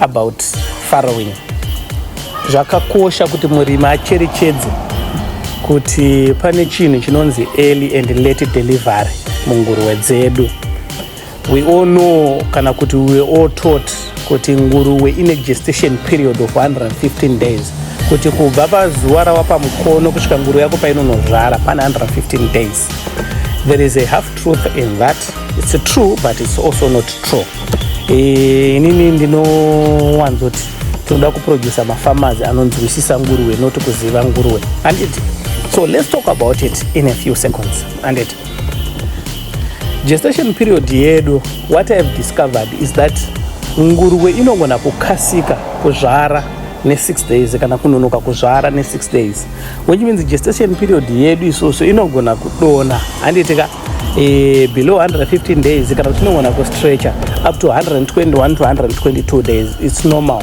About farrowing. Zvakakosha kuti murimi acherechedze kuti pane chinhu chinonzi early and late delivery munguruwe dzedu. We all know kana kuti we all taught kuti nguruwe ine gestation period of 115 days kuti kubva pazuva rawapa mukono kusvika nguruwe yako painonozvara pane 115 days. There is a half truth in that. It's true but it's also not true. Eh, inini ndinowanzoti tinoda kuproducer mafarmers anonzwisisa nguruwe not kuziva nguruwe anditi so let's talk about it in a few seconds anditi gestation period yedu what i have discovered is that nguruwe inogona kukasika kuzvara ne6 days kana kunonoka kuzvara ne6 days which means gestation period yedu isusu inogona kudona handitika e, below 115 days kana kuti tinogona kustretcher up to 121 to 122 days its normal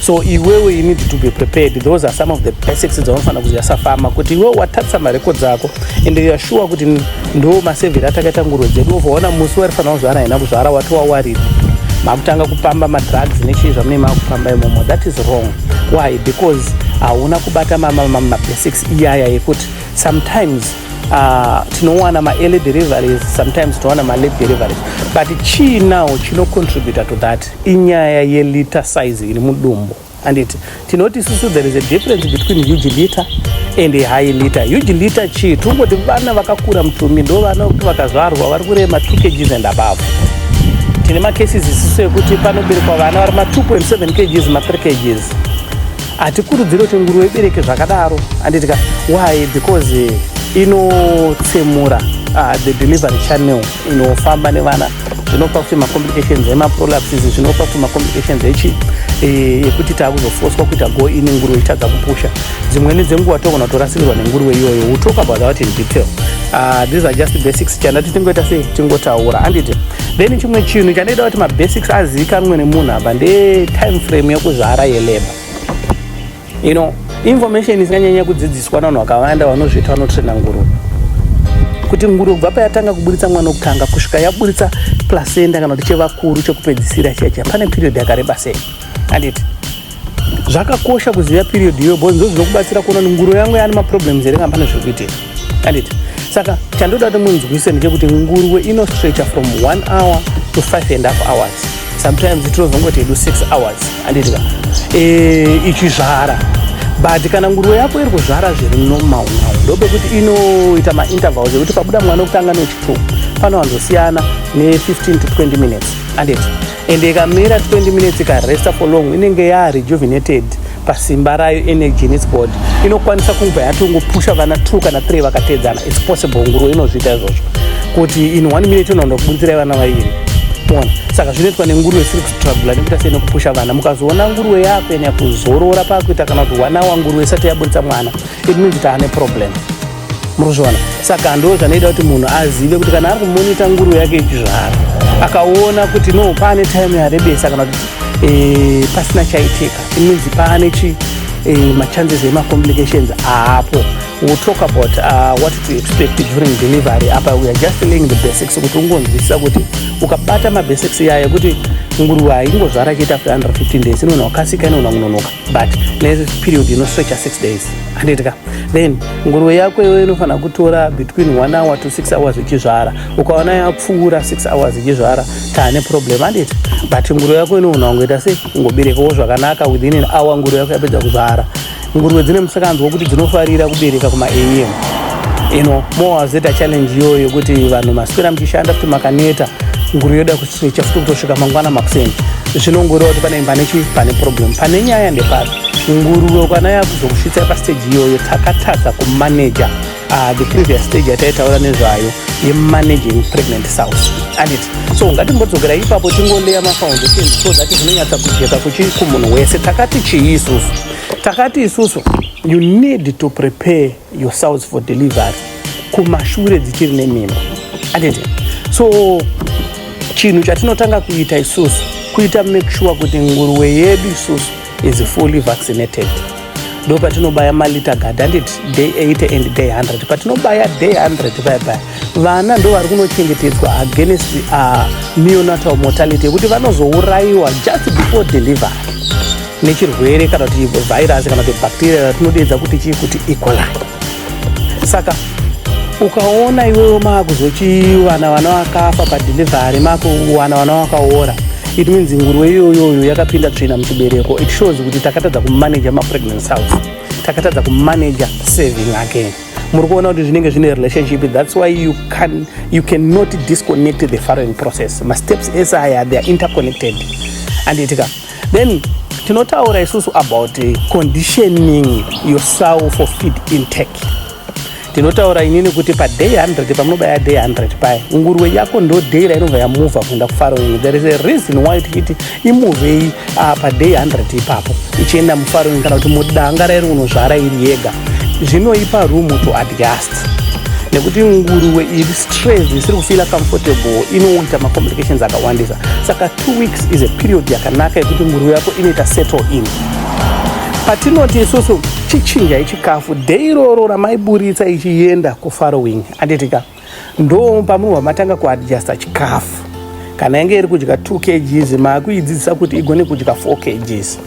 so iwewe you need to be prepared those are some of the basics dzaunofanira kuziva safama kuti iwewe watatisa mareko dzako and youare sure kuti ndo masevheri atakaita ngurwe dzedu ovaona musi warifanira kuzvara haina kuzvara wati wawariri makutanga kupamba madrugs nechii zvamune makupamba imomo that is wrong why because hauna kubata mamabasics iyaya yekuti sometimes Uh, tinowana maearly deliveries sometimes tinowana malate deliveries but chii now chinocontributa to that inyaya yeliter size iri mudumbu anditi tinoti isusu there is a difference between huge liter and a high liter huge liter chii tingoti vana vakakura mutumi ndo vana kuti vakazvarwa vari kurema two kgs and above tine macases isisu ekuti panoberekwa vana vari ma 2.7 kgs ma 3 kgs hatikurudziri kuti nguruve ibereke zvakadaro anditika why because inotsemura uh, the delivery channel inofamba nevana zvinopa kuti macomplications emaprolapses zvinopa kuti macomplications echi eh, yekuti taakuzofoswa kuita go ini nguruve itadza kupusha dzimweni dzenguva togona kutorasikirwa nenguruve iyoyo we'll talk about that in detail uh, these are just basics chanda titingoita sei tingotaura anditi then chimwe chinhu chanoita kuti mabasics azivikanwe nemunhu apa ndetime frame yekuzvara yelabor you know information isinganyanya kudzidziswa navanhu vakawanda vanozviita vanotrena nguruve kuti nguruve kubva payatanga kuburitsa mwana wokutanga kusvika yaburitsa placenta kana kuti chevakuru chekupedzisira chiya chiya pane period yakareba sei anditi zvakakosha kuziva period iyoyo bcause ndozvinokubatsira kuona kuti nguru yangu yaane maproblems here kana pane zviri kuitika anditi saka chandoda kuti munzwise ndechekuti nguruwe inostretcha from one hour to five and half hours sometimes tinozongoti hedu six hours anditika eh, ichizvara but kana nguruwe yako iri kuzvara zviri normal now ndopekuti inoita maintervals ekuti pabuda mwana wekutanga nechituku pano vanzosiyana ne-15 to 20 minutes anditi and ikamira 20 minutes ikaresta for long inenge yarejuvenated pasimba rayo energy in its body inokwanisa kubva yatongopusha vana two kana three vakatedzana its possible nguruve inozviita izvozvo kuti in one minute inoona kubunzirai vana vairi mona saka zvinoitwa nenguruve isiri kustrugula nekuita sei nekupusha vana mukazoona nguruve yakuenya kuzorora pakuita kana kuti one hour nguruve isati yabudisa mwana it means kuti ane problem muruzviwana saka ndo zvanoita kuti munhu azive kuti kana ari kumonita nguru yake yechizvaro akaona kuti no paane time yarebesa kana kuti eh, pasina chaitika iminzi paane chi eh, machances emacomplications aapo we'll talk about uh, what to expect during delivery apa weare just laying the basics kuti ungonzwisisa kuti ukabata mabasics yaya yekuti nguruva ingozvara chiita after 115 days inoona wakasika inoona kunonoka but neperiod inostretcha six days handiti ka then nguruve yako iwe inofanira kutora between one hour to six hours ichizvara ukaona yapfuura six hours ichizvara taane problem handiti but nguruve yako inoona kungoita sei kungoberekawo zvakanaka within an hour nguruve yako yapedza kuzvara nguruve dzine musakanzi wokuti dzinofarira kubereka kumaam ino moazeta challenge iyoyo yokuti vanhu maswera muchishanda kuti makaneta nguruve yoda chafika kutosvika mangwana makuseni zvinongoreva kuti pane pane chii pane problem pane nyaya ndepapi nguruve kwana yakuzokusvitsai pasteji iyoyo takatadza kumaneja uh, ah, the previous stage yataitaura nezvayo yemanaging pregnant south andit so ngatimbodzokera ipapo tingoleya mafoundation so that zvinonyatsa kujeka kuchii kumunhu wese takati chii isusu takati isusu you need to prepare yourselves for delivery kumashure dzichiri nemimba atete so chinhu chatinotanga kuita isusu kuita make sure kuti nguruwe yedu isusu is fully vaccinated ndo patinobaya malita gadhandit day 80 and day 100 patinobaya day 100 payapaya vana ndo vari kunochengetedzwa against uh, neonatal mortality yekuti vanozourayiwa just before delivery nechirwere kana kuti virus kana kuti bacteria ratinodeedza kuti chii kuti equali e. saka ukaona iwewo maakuzochivana vana vakafa padelivery maakuwana vana vakaora it means nguruve iyoyoyo yakapinda tsvina muchibereko it shows kuti takatadza kumaneja mapregnancy house takatadza kumaneja saving again muri kuona kuti zvinenge zvine relationship that's why you can you cannot disconnect the following process masteps ese aya they are interconnected andiitika then tinotaura isusu about eh, conditioning yourself for feed intake tinotaura inini kuti paday 100 pamunobaya day 100 paya nguruwe yako ndo day rainobva yamuvha kuenda kufaroing there is a reason why tichiti imuvei ah, paday 100 ipapo ichienda mufarini kana kuti mudanga rairi unozvara iri yega zvinoipa room to adjust nekuti nguruwe iri stress isiri kufila comfortable inoita macomplications akawandisa saka two weeks is a period yakanaka yekuti nguruwe yako inoita settle in patinoti isusu chichinjai chikafu day iroro ramaiburitsa ichienda kufarowing anditika ndo pamunobva matanga kuadjusta chikafu kana yange iri kudya 2 kgs maakuidzidzisa kuti igone kudya 4 kgs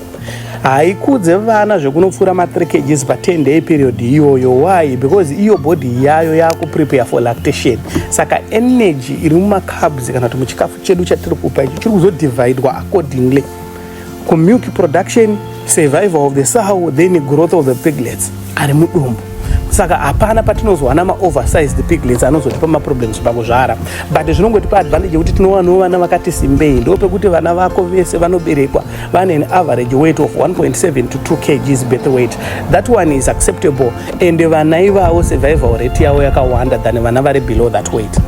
haikudze vana zvekunopfuura ma3 kgs pa10 day period iyoyo why because iyo body yayo yakuprepare for lactation saka energy iri mumacabs kana kuti muchikafu chedu chatiri kupa ichi chiri kuzodivhaidwa accordingly ku milk production survival of the sow then growth of the piglets ari mudumbu saka hapana patinozowana maoversized piglets anozotipa maproblems pakuzvara but zvinongotipa advantage yekuti tinowanawo vana vakati simbei ndo pekuti vana vako vese vanoberekwa vane an average weight of 1.7 to 2 kgs birth weight that one is acceptable and vana ivavo survival rate yavo yakawanda than vana vari below that weight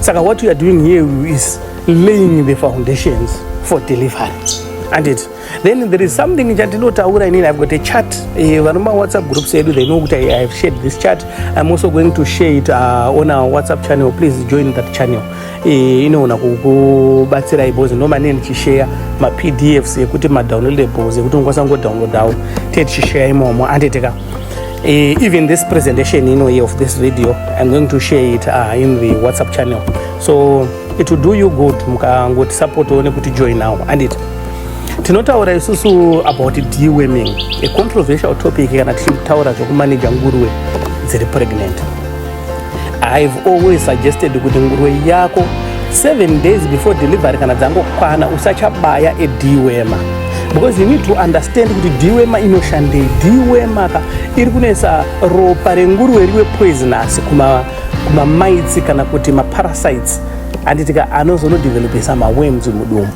saka what you are doing here is laying the foundations for delivery and it then there is something chatinotaura inini i've got a chart eh, vano mawhatsapp groups edu they know kuti i have shared this chart i'm also going to share it uh, on our whatsapp channel please join that channel eh, inoona kukubatsirai bcause ndomane ndichishare mapdfs ekuti madownloadables ekuti ungakwanisa kungodownloadawo te tichishare imomo anditeka eh, even this presentation inoye of this video i'm going to share it uh, in the whatsapp channel so It will do you good mukangoti support one kuti join now and it tinotaura isusu about deweming a controversial topic kana tichitaura zvekumaneja nguruwe dziri pregnant ihave always suggested kuti nguruwe yako seven days before delivery kana dzangokwana usachabaya edewema because you need to understand kuti dewema inoshandei dewemaka iri kunoisa ropa renguruwe riwe poisonous kuma mamaitsi kana kuti maparasites anditika anozonodevelopesa mawems mudumbu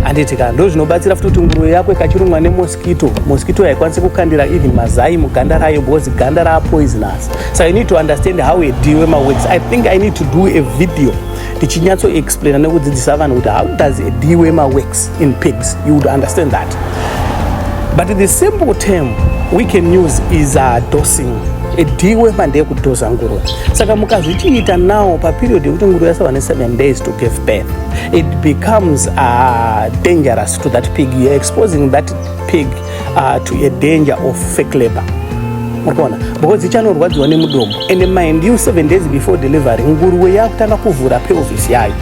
anditika ndo zvinobatsira futi kuti nguruve yako ikachirumwa nemoskito moskito haikwanisi kukandira even mazai muganda rayo because ganda raapoisonous so i need to understand how a deal wemawems i think i need to do a video ndichinyatsoexplaina nekudzidzisa vanhu kuti how does a deal wemawems in pigs you would understand that but the simple term we can use is a uh, dosing ediwe mande yekudhoza nguruve saka mukazvichiita now paperiod yekuti nguruve yasava ne7 days to give birth it becomes uh, dangerous to that pig you're exposing that pig uh, to a danger of fake labor murikuona because ichanorwadziwa nemudomo and mind you 7 days before delivery nguruve yakutanga kuvhura pelvis yayo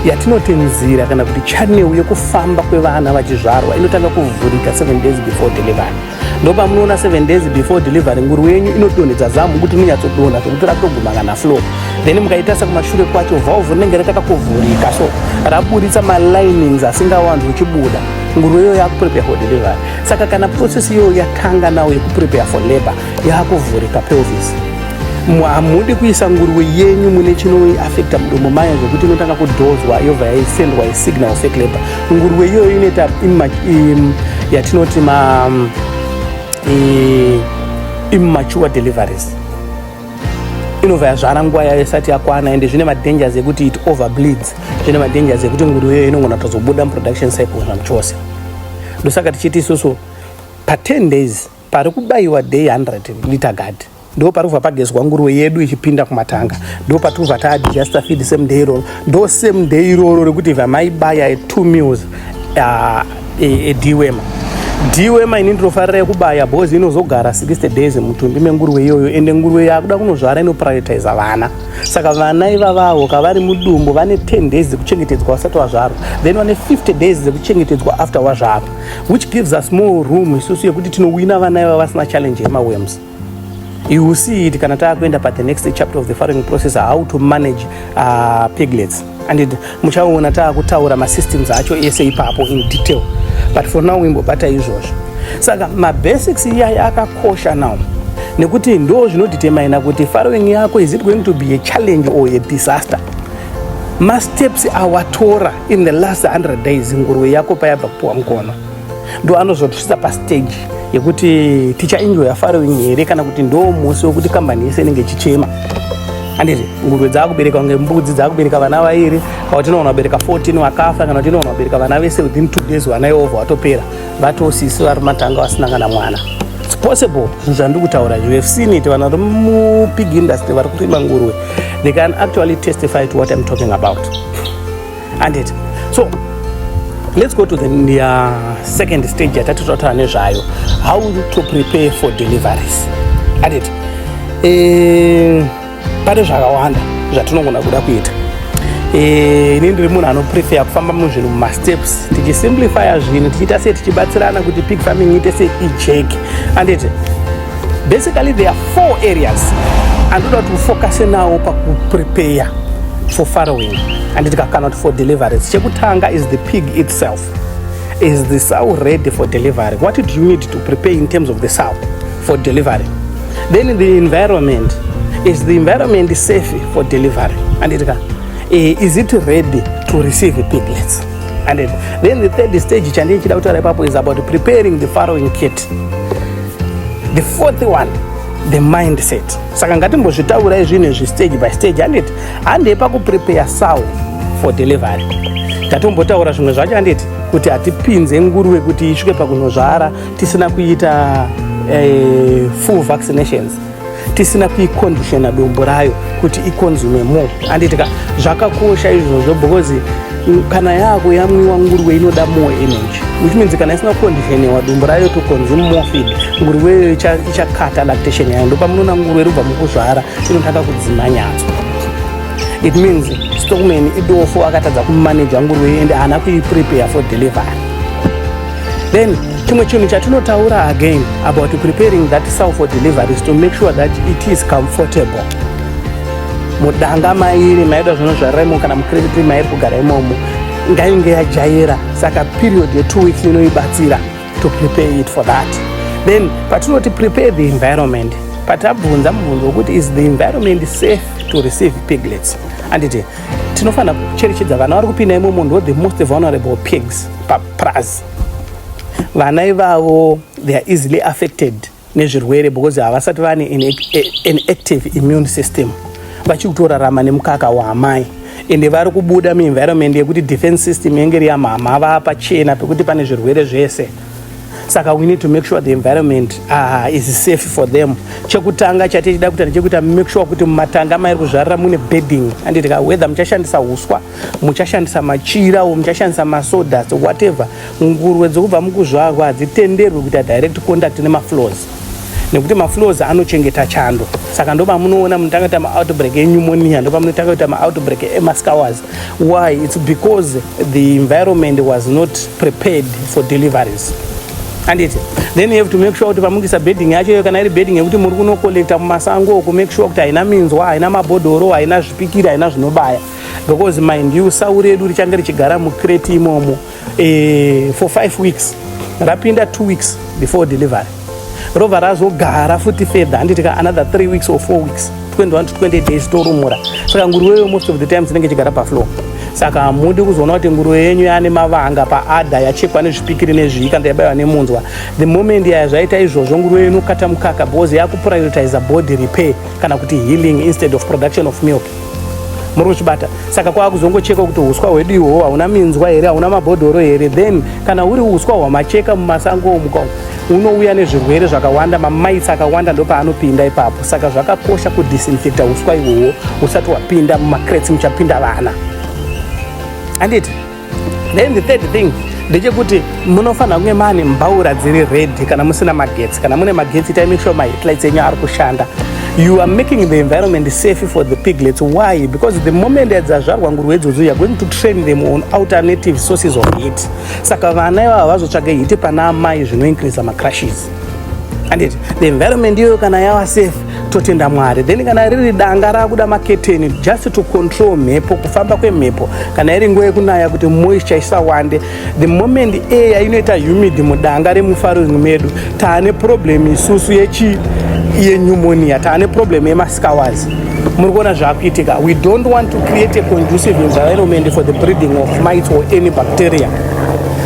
yatinoti nzira kana kuti channel yekufamba kwevana vachizvarwa inotanga kuvhurika 7 days before delivery ndopamunoona 7 days before delivery nguru yenyu inodonhedza zamu kuti inonyatsodonha zvekuti ratoguma kana flow then mukaitarisa kumashure kwacho valve rinenge ratakakuvhurika so raburitsa malinings asingawanzi uchibuda nguru iyoyo yakuprepare for delivery saka kana process iyoyo yatanga nawo yekuprepare for labor yakuvhurika pelvis hamudi kuisa nguruwe yenyu mune chinoafekta mudomo maya zvekuti inotanga kudhozwa yobva yaisendwa isignal fake labor nguruwe iyoyo inoita yatinoti ma um, immature deliveries inobva yazvara nguva yayo isati yakwana ende zvine madangers ekuti it over bleeds zvine madangers ekuti nguruwe iyoyo inogona kutozobuda muproduction cycle zvamchose ndosaka tichiti isusu pa 10 days Pari kubayiwa day 100 liter guard ndo parikubva pagezwa nguruve yedu ichipinda kumatanga ndo patirikubva taadjusta feed same day iroro ndo same day iroro rekuti ibva maibaya e two meals ah, e, e dwema dwema ini ndinofarira yekubaya bhozi inozogara 60 days mutumbi menguruve iyoyo ende nguruve yakuda kunozvara inoprioritiza vana saka vana ivavavo kavari mudumbu vane 10 days dzekuchengetedzwa vasati vazvarwa then vane 50 days dzekuchengetedzwa after wazvarwa which gives us more room isusu yekuti tinowina vana iva vasina challenge yemawems you will see it kana taakuenda pa the next chapter of the farming process how to manage uh, piglets and muchaona taakutaura masystems acho ese ipapo in detail but for now imbobata izvozvo saka mabasics iyaya akakosha now nekuti ndo zvinotitemaina kuti farming yako is it going to be a challenge or a disaster masteps awatora in the last 100 days nguruve yako payabva kupiwa mukono ndo anozotosvitsa pastage yekuti tichaenjoya farowing here kana kuti ndo musi wekuti kambani yese inenge ichichema anditi nguruve dzaakubereka kunge mbudzi dzaakubereka vana vairi kana kuti inoona kubereka 14 vakafa kana kuti inoona kubereka vana vese within two days vana ivovo vatopera But osisi vari matanga vasina kana mwana. It's possible zvinhu zvandiri kutaura izvi. We have seen it vana vari mupig industry vari kurima nguruve. They can actually testify to what I'm talking about. And it. So let's go to the uh, second stage yatati totaura nezvayo. How to prepare for deliveries. And it. Eh, pane zvakawanda zvatinogona kuda kuita eh, ini ndiri munhu anoprefer kufamba muzvinhu mumasteps tichisimplifya zvinhu tichiita sei tichibatsirana kuti pig farming iite sei ijeki anditi basically there are four areas andoda kuti ufokase nawo pakuprepeya for farrowing anditi kakana kuti for deliverance chekutanga is the pig itself is the sow ready for delivery what do you need to prepare in terms of the sow for delivery Then the environment is the environment safe for delivery and it can, eh, is it ready to receive piglets and it, then the third stage chandii chida kutaura ipapo is about preparing the following kit the fourth one the mindset saka ngatimbozvitaurai zvinhu izvi stage by stage handiti handei pakuprepare sow for delivery tatombotaura zvimwe zvacho handiti kuti hatipinze nguruve kuti isvike pakunozvara tisina kuita eh, full vaccinations tisina kuiconditiona dombo rayo kuti iconsume more anditika zvakakosha izvozvo because kana yako yamwiwa nguruve inoda more energy which means kana isina kuconditionewa dombo rayo to consume more feed nguruve iyoyo ichakata lactation yayo ndopamunoona nguruve rubva mukuzvara inotanga kudzima nyatso it means stockman idofo akatadza kumanaja nguruve ende haana kuiprepare for delivery Then chimwe chinhu chatinotaura again about preparing that sow for delivery is to make sure that it is comfortable mudanga mairi maida zvino zvaraimo kana mucreditry mairi kugara imomo ngainge yajaira saka period yetwo weeks inoibatsira to prepare it for that then patinoti prepare the environment patabvunza mubvunzo wekuti is the environment safe to receive piglets anditi tinofanira kucherechedza vana vari kupinda imomo ndo the most vulnerable pigs plus vana ivavo they are easily affected nezvirwere because havasati vane an active immune system vachiri kutorarama nemukaka waamai ende vari kubuda muenvironment yekuti defense system yenge iri yamhamha vaa pachena pekuti pane zvirwere zvese saka we need to make sure the environment uh, is safe for them chekutanga chatichida kuita ndechekuita make sure kuti mumatanga mairi kuzvarira mune bedding anditi ka weather muchashandisa uswa muchashandisa machira o muchashandisa masodas whatever nguruve dzokubva mukuzvarwa hadzitenderwi kuita direct contact nemafloors nekuti mafloors anochengeta chando saka ndopamunoona munotanga kuita maoutbreak enyumonia ndopamunotanga kuita maoutbreak emascowers why its because the environment was not prepared for deliveries anditi then you have to make sure kuti pamukuisa bedding yacho iyo kana iri bedding yekuti muri kunocollecta mumasango oku make sure kuti haina minzwa haina mabhodhoro haina zvipikiri haina zvinobaya because mind you sau redu richange richigara mucrate imomo e, for five weeks rapinda two weeks before delivery rova razogara futi fedha handiti ka another three weeks or four weeks 21 to 20 days torumura saka nguruweyo most of the time dzinenge chigara paflow saka hamudi kuzoona kuti nguruve yenyu yaane mavanga paada yachekwa nezvipikiri nezvii kana yabaiwa nemunzwa the moment yaya zvaita izvozvo nguruve inokata mukaka because yakuprioritiza body repair kana kuti healing instead of production of milk muri kuchibata saka kwakuzongocheka kuti uswa hwedu ihwohwo hauna minzwa here hauna mabhodhoro here then kana huri uswa hwamacheka mumasango omuka unouya nezvirwere zvakawanda mamaitsi akawanda ndopaanopinda ipapo saka zvakakosha kudisinfecta uswa ihwohwo usati wapinda mumacrets muchapinda vana anditi then the third thing ndechekuti munofanira kunge mane mbaura dziri redi kana musina magetsi kana mune magetsi itai make sure maheadlights enyu ari kushanda you are making the environment safe for the piglets why because the moment adzazvarwa ngurwe idzodzo youare going to train them on alternative sources of heat saka vana ivava vazotsvage hiti pana amai zvinoincreasa macrushes andit the environment iyoyo kana yava safe totenda mwari then kana riri danga rakuda maketeni just to control mhepo kufamba kwemhepo kana iri nguva yekunaya kuti moisture isawande the moment air inoita humid mudanga remufaring medu taane problem isusu yechi yenyumoniya taane problem yemasikawazi muri kuona zvakuitika we don't want to create a conducive environment for the breeding of mites or any bacteria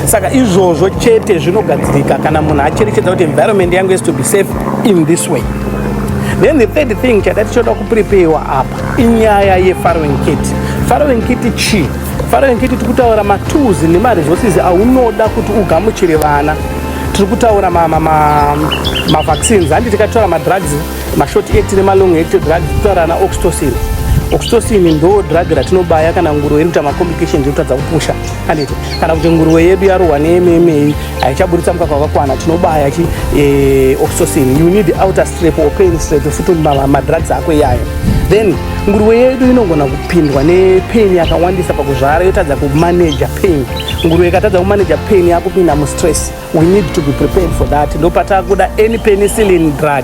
saka izvozvo chete zvinogadzirika kana munhu acherechedza kuti environment yangu is to be safe in this way then the third thing chada tichoda kupreparewa apa inyaya yefarowing kit farowing kit chii farowing kit tiri kutaura matools nemaresources aunoda kuti ugamuchire vana tiri kutaura mavaccines handi tikataura madrugs mashort ect nemalong ect drugs titaura ana oxtocin oxtocin ndo drug ratinobaya kana nguro inoita macomplications yotadza kupusha Kanete. Kana kuti nguruwe yedu yarohwa neMMA haichaburitsa mukaka wakakwana tinobaya chi eh, oxytocin. You need outer strep or pain strep futi ma- madrugs ako iyayo. Then nguruwe yedu inogona kupindwa nepain yakawandisa pakuzvara yotadza kumaneja pain. Nguruwe ikatadza kumaneja pain yakupinda mustress. We need to be prepared for that. Ndopatakuda any penicillin drug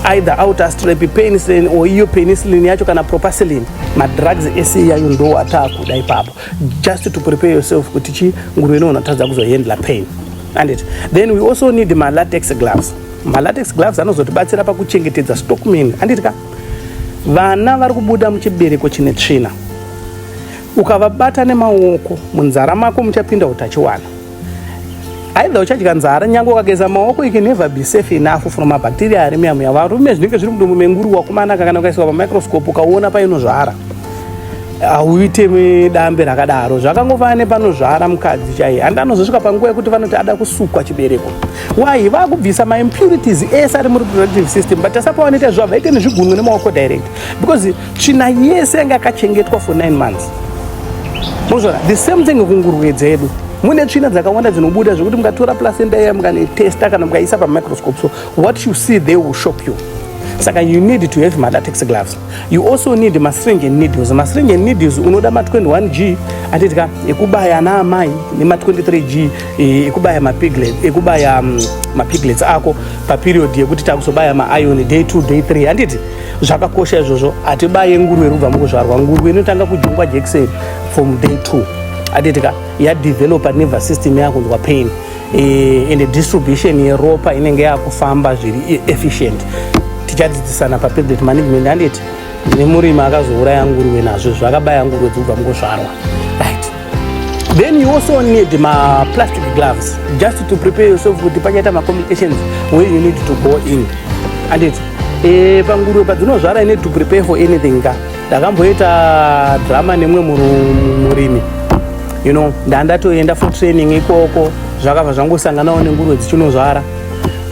either outer strep penicillin or iyo penicillin yacho kana propacillin madrugs ese iyayo ndo ataakuda ipapo just to prepare yourself kuti chi nguruve ino unatadza kuzohandla pain and it then we also need malatex gloves malatex gloves anozotibatsira pakuchengetedza stockman anditi ka vana vari kubuda muchibereko chine tsvina ukavabata nemaoko munzara mako muchapinda utachiwana aidha uchadya nzara nyange ukageza maoko you can never be safe enough from mabacteria ari muyamu yavarume zvinenge zviri mudumbu menguru wakumanaka kana ukaiswa pamicroscope ukaona painozvara hauite dambe rakadaro zvakangofanana nepanozvara mukadzi chaiye handi anozosvika panguva yekuti vanoti ada kusukwa chibereko wayi vakubvisa maimpurities ese ari mureproductive system but asapavanoita zvavo vaite nezvigunwe nemaoko direct because tsvina yese yanga yakachengetwa for 9 months mozvona the same thing kunguruve dzedu mune tsvina dzakawanda dzinobuda zvekuti mukatora placenta iya mukanetesta kana mukaisa pamicroscope so what you see they will shock you saka you need to have malatex gloves you also need mastring and needles mastring and needles unoda ma21 g atitika ekubaya ana amai nema23 g e, ekubaya mapiglet ekubaya mm, mapiglets ako paperiod yekuti takusobaya maion day 2 day 3 handiti zvakakosha izvozvo hatibaye nguruve rubva mukuzvarwa nguruve inotanga kujungwa jekiseni from day two atitika yadevelopa nerver system yakunzwa pain eh, and distribution yeropa inenge yakufamba zviri e-, efficient tichadzidzisana papresident management anditi nemurimi akazouraya nguruve nazvo zvakabaya nguruve dzobva mukuzvarwa Then you also need ma plastic gloves just to prepare yourself kuti pachaita ma complications where you need to go in. Anditi eh panguruve padzinozvara i need to prepare for anything ka. Ndakamboita drama nemwe murimi. You know, ndandatoenda for training ikoko zvakabva zvangosanganawo nenguruve dzichinozvara.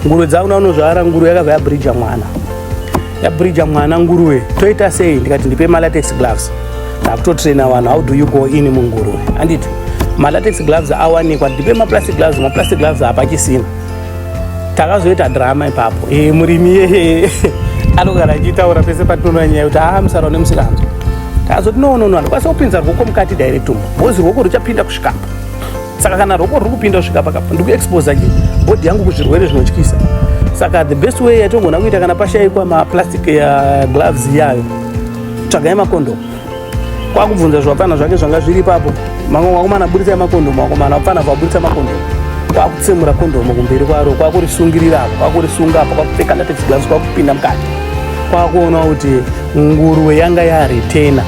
Nguruve dzakunaunozvara nguruve yakabva yabridger mwana. ndabhirija mwana nguruve toita sei ndikati ndipe malatex gloves ndakutotraina vanhu how do you go in munguruve anditi malatex gloves awanikwa ndipe maplastic gloves maplastic gloves hapachisina takazoita drama ipapo e, murimi yeye anogara achitaura pese patinoona nyaya kuti aa ah, musara une musikanzo takazoti nonono handikwanisa kupinza rwoko mukati directom bhozi rwoko ruchapinda kusvikapo saka kana roko riri kupinda kusvika pakapa ndikuexposa chi body yangu kuzvirwere zvinotyisa saka the best way yatongona kuita kana pashaikwa maplastic ya gloves yayo tsvagai makondomu kwakubvunza zvapfana zvake zvanga zviri ipapo mamwe wakomana buritsa makondomu wakomana wapfana vaburitsa makondomu kwakutsemura kondomu kumberi kwaro kwakurisungirira apo kwakurisunga apo kwakupfeka latex gloves kwakupinda mukati kwakuona kuti nguruwe yanga yaritena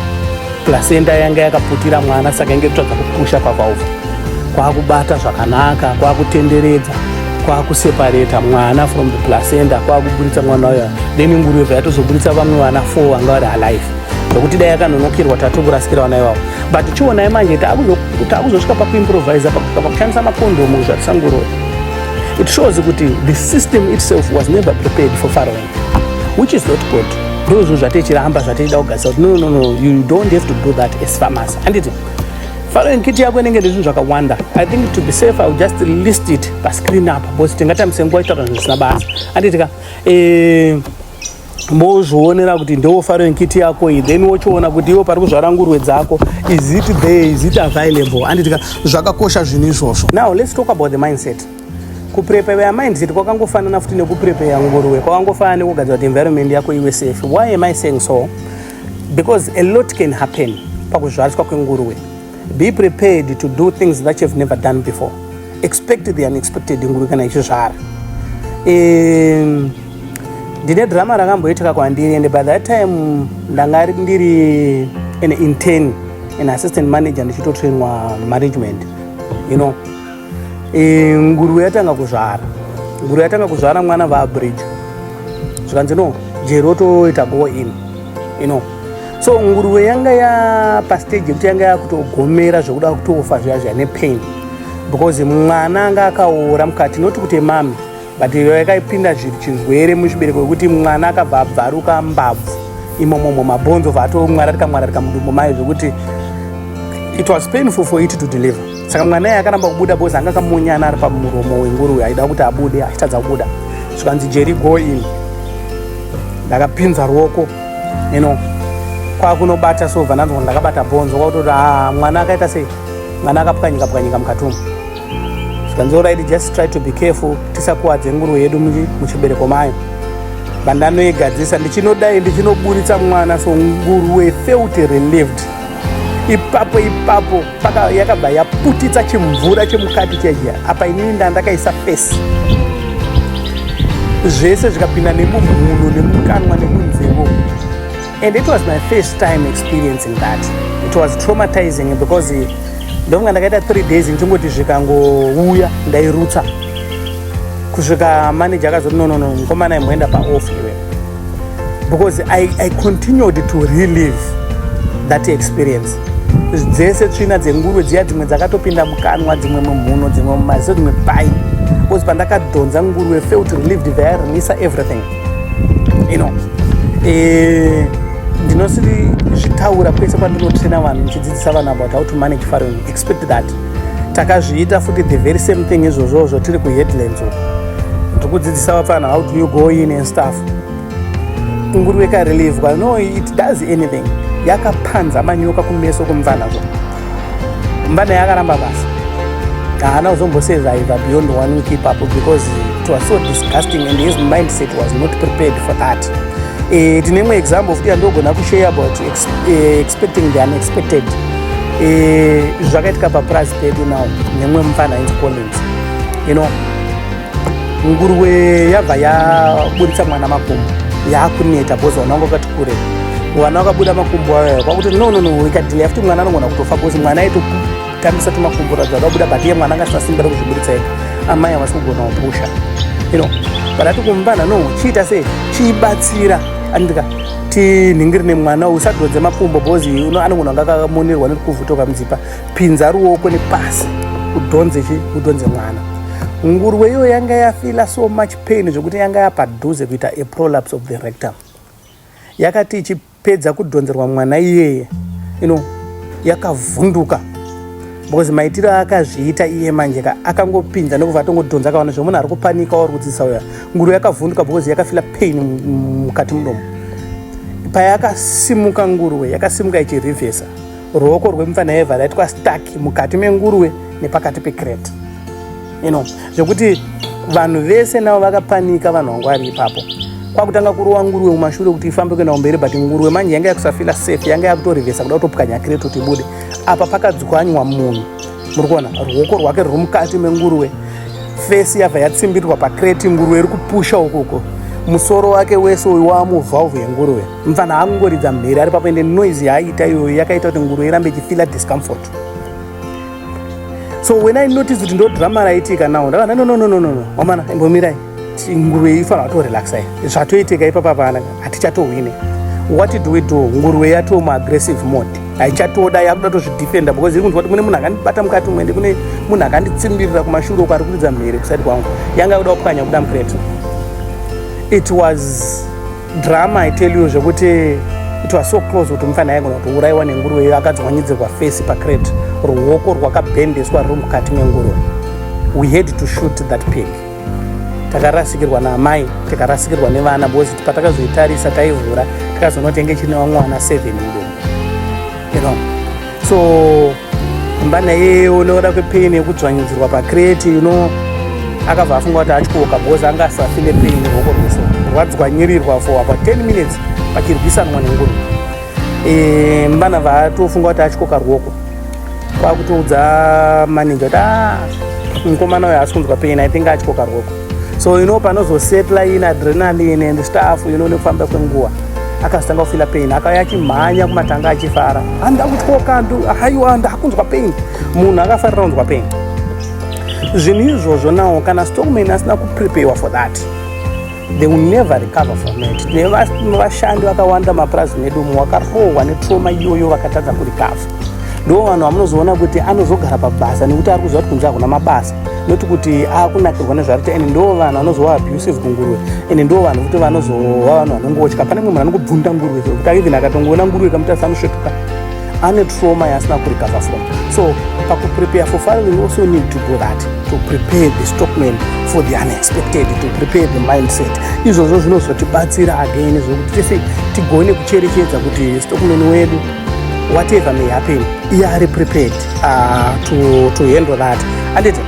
Placenta yanga yakaputira mwana saka inge kutsvaga kupusha pavalve kwakubata zvakanaka kwakutenderedza kwakusepareta mwana from the placenta kwakuburitsa mwana uyo then nguruve yatozoburitsa vamwe vana four vanga vari alive nokuti dai yakanonokerwa tatokurasira vana ivavo but chionai manje takuzosvika pakuimproviser pakushandisa makondomu zvatisanguroi it shows kuti the system itself was never prepared for faroe which is not good ndozvo zvatechiramba zvatechida kugarisa kuti no no no you don't have to do that as farmers handiti following kiti yako inenge ndezvinhu zvakawanda i think to be safe iwill just list it pascreen apa because tingatambise nguva itaura zvinhu zvisina basa handiti ka eh, mozvionera kuti ndewo following kiti yako iyi then wochiona kuti iwo pari kuzvara ngurwe dzako is it there is it available handiti ka zvakakosha zvinhu izvozvo now let's talk about the mindset kuprepare mindset kwakangofanana futi nekuprepare nguruwe kwakangofanana nekugadzira kuti environment yako iwe safe why am i saying so because a lot can happen pakuzvariswa kwenguruwe be prepared to do things that you've never done before expect the unexpected nguruwe kana ichizvara ndine drama rakamboitika kwandiri and by that time ndanga ndiri an intern an assistant manager ndichitotrainwa management you know e, nguruve yatanga kuzvara nguruve yatanga kuzvara mwana vaabridge zvikanzi no jeri otoita go in you know so nguruve yanga ya pastage yekuti yanga yakutogomera zvekuda kutofa zviya zviya nepain because mwana anga akaora mukati noti kuti mami but yakaipinda chirwere muchibereko wekuti mwana akabva abvaruka mbabvu imomomo mabhonzo obva atomwararika mwararika mudumbu maye zvekuti it was painful for it to deliver saka mwana iye akaramba kubuda bcause anga akamunyana ari pamuromo wenguruve aida kuti abude achitadza kubuda zvikanzi jeri go in ndakapinza ruoko you know kwakunobata so bva ndanzwa kuti ndakabata bhonzo kwakutoti haa ah, mwana akaita sei mwana akapwanyika pwanyika mukati umu zvikanzi right just try to be careful tisakuwadze nguru yedu muchibereko mayo vandanoigadzisa ndichinodai ndichinoburitsa mwana so nguruwe felt relieved ipapo ipapo paka yakabva yaputitsa chimvura chemukati cheja apa inini nda ndakaisa fesi zvese zvikapinda nemumhuno nemukanwa nemunzevo And it was my first time experiencing that. It was traumatizing because eh, ndovanga ndakaita three days ndichingoti zvikangouya ndairutsa kusvika manager akazoti no no no mukomana imboenda paoff iwe because I, I continued to relive that experience dzese tsvina dzenguruve dziya dzimwe dzakatopinda mukanwa dzimwe mumhuno dzimwe mumaziso dzimwe pai because pandakadhonza nguruve felt relieved vayarelisa everything you know eh ndinosiri zvitaura kwese kwandinotraina vanhu ndichidzidzisa vanhu about how to manage farewell expect that takazviita futi the very same thing izvozvozvo tiri kuheadlands uko tikudzidzisa vapfana how do you go in and stuff nguruve karelivwa no it does anything yakapanza manyoka kumeso kumvanazvo Mbada yakaramba basa. Haana kuzombosurvive beyond one week ipapo because it was so disgusting and his mindset was not prepared for that. Eh, tine imwe example futi yandogona kushare about ex, eh, expecting the unexpected. Eh, zvakaitika papurazi pedu now nemwe mufana ainzi Collins. You know, nguruwe yabva yaburitsa mwana makumbo yakuneta bhozi vana vanga vakati kure vana vakabuda makumbo ayo kwakuti no no no ikadhila yafuti mwana anogona kutofa bhozi mwana aitotambisa tumakumbo radza akabuda but iye mwana anga asasimbira kuzviburitsa ega amai havasi kugona kupusha you know but ati kumbana no chiita sei chibatsira andika tinhingiri nemwana usadhodze makumbo bhozi anogona anga akamonerwa nekuvhutoka mudzipa pinza ruoko nepasi udhonze chi udhonze mwana nguruwe iyoyo yanga yafila so much pain zvekuti yanga yapadhuze kuita a prolapse of the rectum yakati ichipedza kudhonzerwa mwana iyeye ino yakavhunduka because maitiro akazviita iye manje ka akangopinza nekubva atongodhonza akaona zve munhu ari kupanika wauri kudzidzisa uya nguru yakavhunduka because yakafila pain mukati mudomo payakasimuka nguruwe yakasimuka ichirivhesa ruoko rwemupfana yevha raitwa stuck mukati menguruve nepakati pecrate you know zvekuti vanhu vese navo vakapanika vanhu vangu vari ipapo kwakutanga kurova nguruve mumashure kuti ifambe kuenda kumberi but nguruve manje yanga yakusafila safe yanga yakutorivhesa kuda kutopwanya crate kuti ibude apa pakadzwanywa munhu muri kuona ruoko rwake ruri mukati menguruve fesi yabva yatsimbirwa pacrate nguruve iri kupusha ukoko musoro wake wese uyu waamuvhalve yenguruve mfana angoridza mhere ari papo ende noise yaaita iyoyo yakaita kuti nguru irambe ichifila discomfort so when i notice kuti ndo drama raitika now ndakana no no no no no wamana imbomirai nguruve ifana watorelaxai zvatoitika ipapa pana hatichatohwine what do we do nguruve yatoo muaggressive mode haichatoda yakuda tozvidefenda because iri kunzwa kuti mune munhu akandibata mukati umwe ndikune munhu akanditsimbirira kumashure uko ari kuridza mhere kusati kwangu yanga yakuda kupwanya kuda mukreto it was Drama I tell you zvekuti it was so close kuti mufana aigona kutouraiwa nenguruve iyo akadzwanyidzirwa face pacrate ruoko rwakabhendeswa ruri mukati menguruve we had to shoot that pig takarasikirwa naamai tikarasikirwa nevana because patakazoitarisa taivhura takazonotenga chine vamwe vana seven mudomo you know so mbana yeye unoda kwepain yekudzvanyidzirwa pacrate you know akabva afunga kuti atyoka because anga asafile pain rwoko rwese rwadzwanyirirwa for about 10 minutes pachirwisanwa nenguru e, mbana vatofunga kuti atyoka rwoko kwakutoudza manager kuti ah, mukomana uyo haasi kunzwa pain i think atyoka rwoko so you know panozosetla in adrenaline and stuff you know nekufamba kwenguva akazotanga kufila pain akauya achimhanya kumatanga achifara handa kutyoka haiwa ndakunzwa pain munhu akafarira kunzwa pain zvinhu izvozvo nawo kana stockman asina kupreparewa for that they will never recover from it nevashandi vakawanda mapurazi medu mu wakarohwa netroma iyoyo vakatadza kurikava ndo vanhu vamunozoona kuti anozogara pabasa nekuti ari kuziva kuti kunze hakuna mabasa not kuti akunakirwa nezvaari kuti and ndo vanhu vanozowa abusive kunguruve and ndo vanhu kuti vanozowa vanhu vanongotya pane mumwe munhu anongobvunda nguruve kuti aivhen akatongoona nguruve kamuti asanosvetuka ane trauma yaasina kurecover from so pakuprepare for fire we also need to do that to prepare the stockman for the unexpected to prepare the mindset izvozvo zvinozotibatsira again zvokuti tese tigone kucherechedza kuti stockman wedu whatever may happen iye ari prepared uh, to, to handle that anditi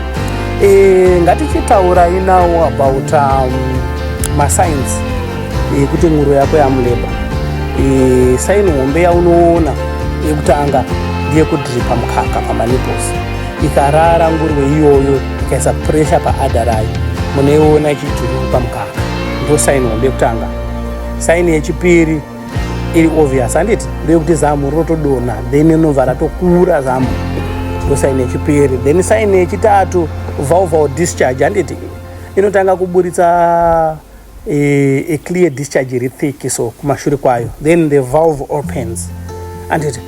e, eh, ngatichitaurai now about um, masigns ekuti eh, e, nguro yako yamuleba e, eh, saini hombe yaunoona yekutanga ndeyekudripa mukaka pamanipos ikarara nguruve iyoyo ikaisa presha paada rayo munoiona ichidripa mukaka ndo saini hombe yekutanga saini yechipiri iri obvious handiti ndeyekuti zamu rotodonha then inobva ratokura zamu ndosaini yechipiri then saini yechitatu valval discharge handiti inotanga kuburitsa e, e clear discharge iri thick so kumashure kwayo then the valve opens handiti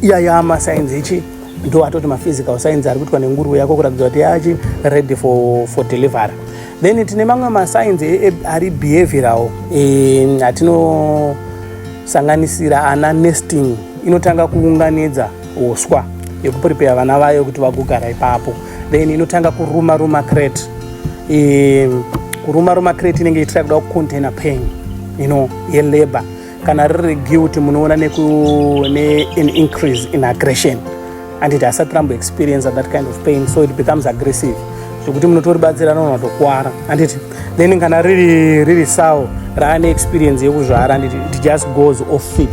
iyaya masainzi ichi ndo atoti maphysical science ari kuitwa nenguruve yako kuratidza kuti yachi ready for, for delivery then tine mamwe mascience e, e, ari behavioral e, atinosanganisira ana nesting inotanga kuunganidza uswa yekuprepare vana vayo kuti vagogara ipapo then inotanga kuruma ruma crate e, kuruma ruma crate inenge ichitira kuda kucontainer pain you know yelabor kana riri guilt munoona nekune an increase in aggression anditi asati rambo experience that kind of pain so it becomes aggressive zvekuti munotoribatsira nona tokwara anditi then kana riri riri sawo raane experience yekuzvara anditi it just goes off fit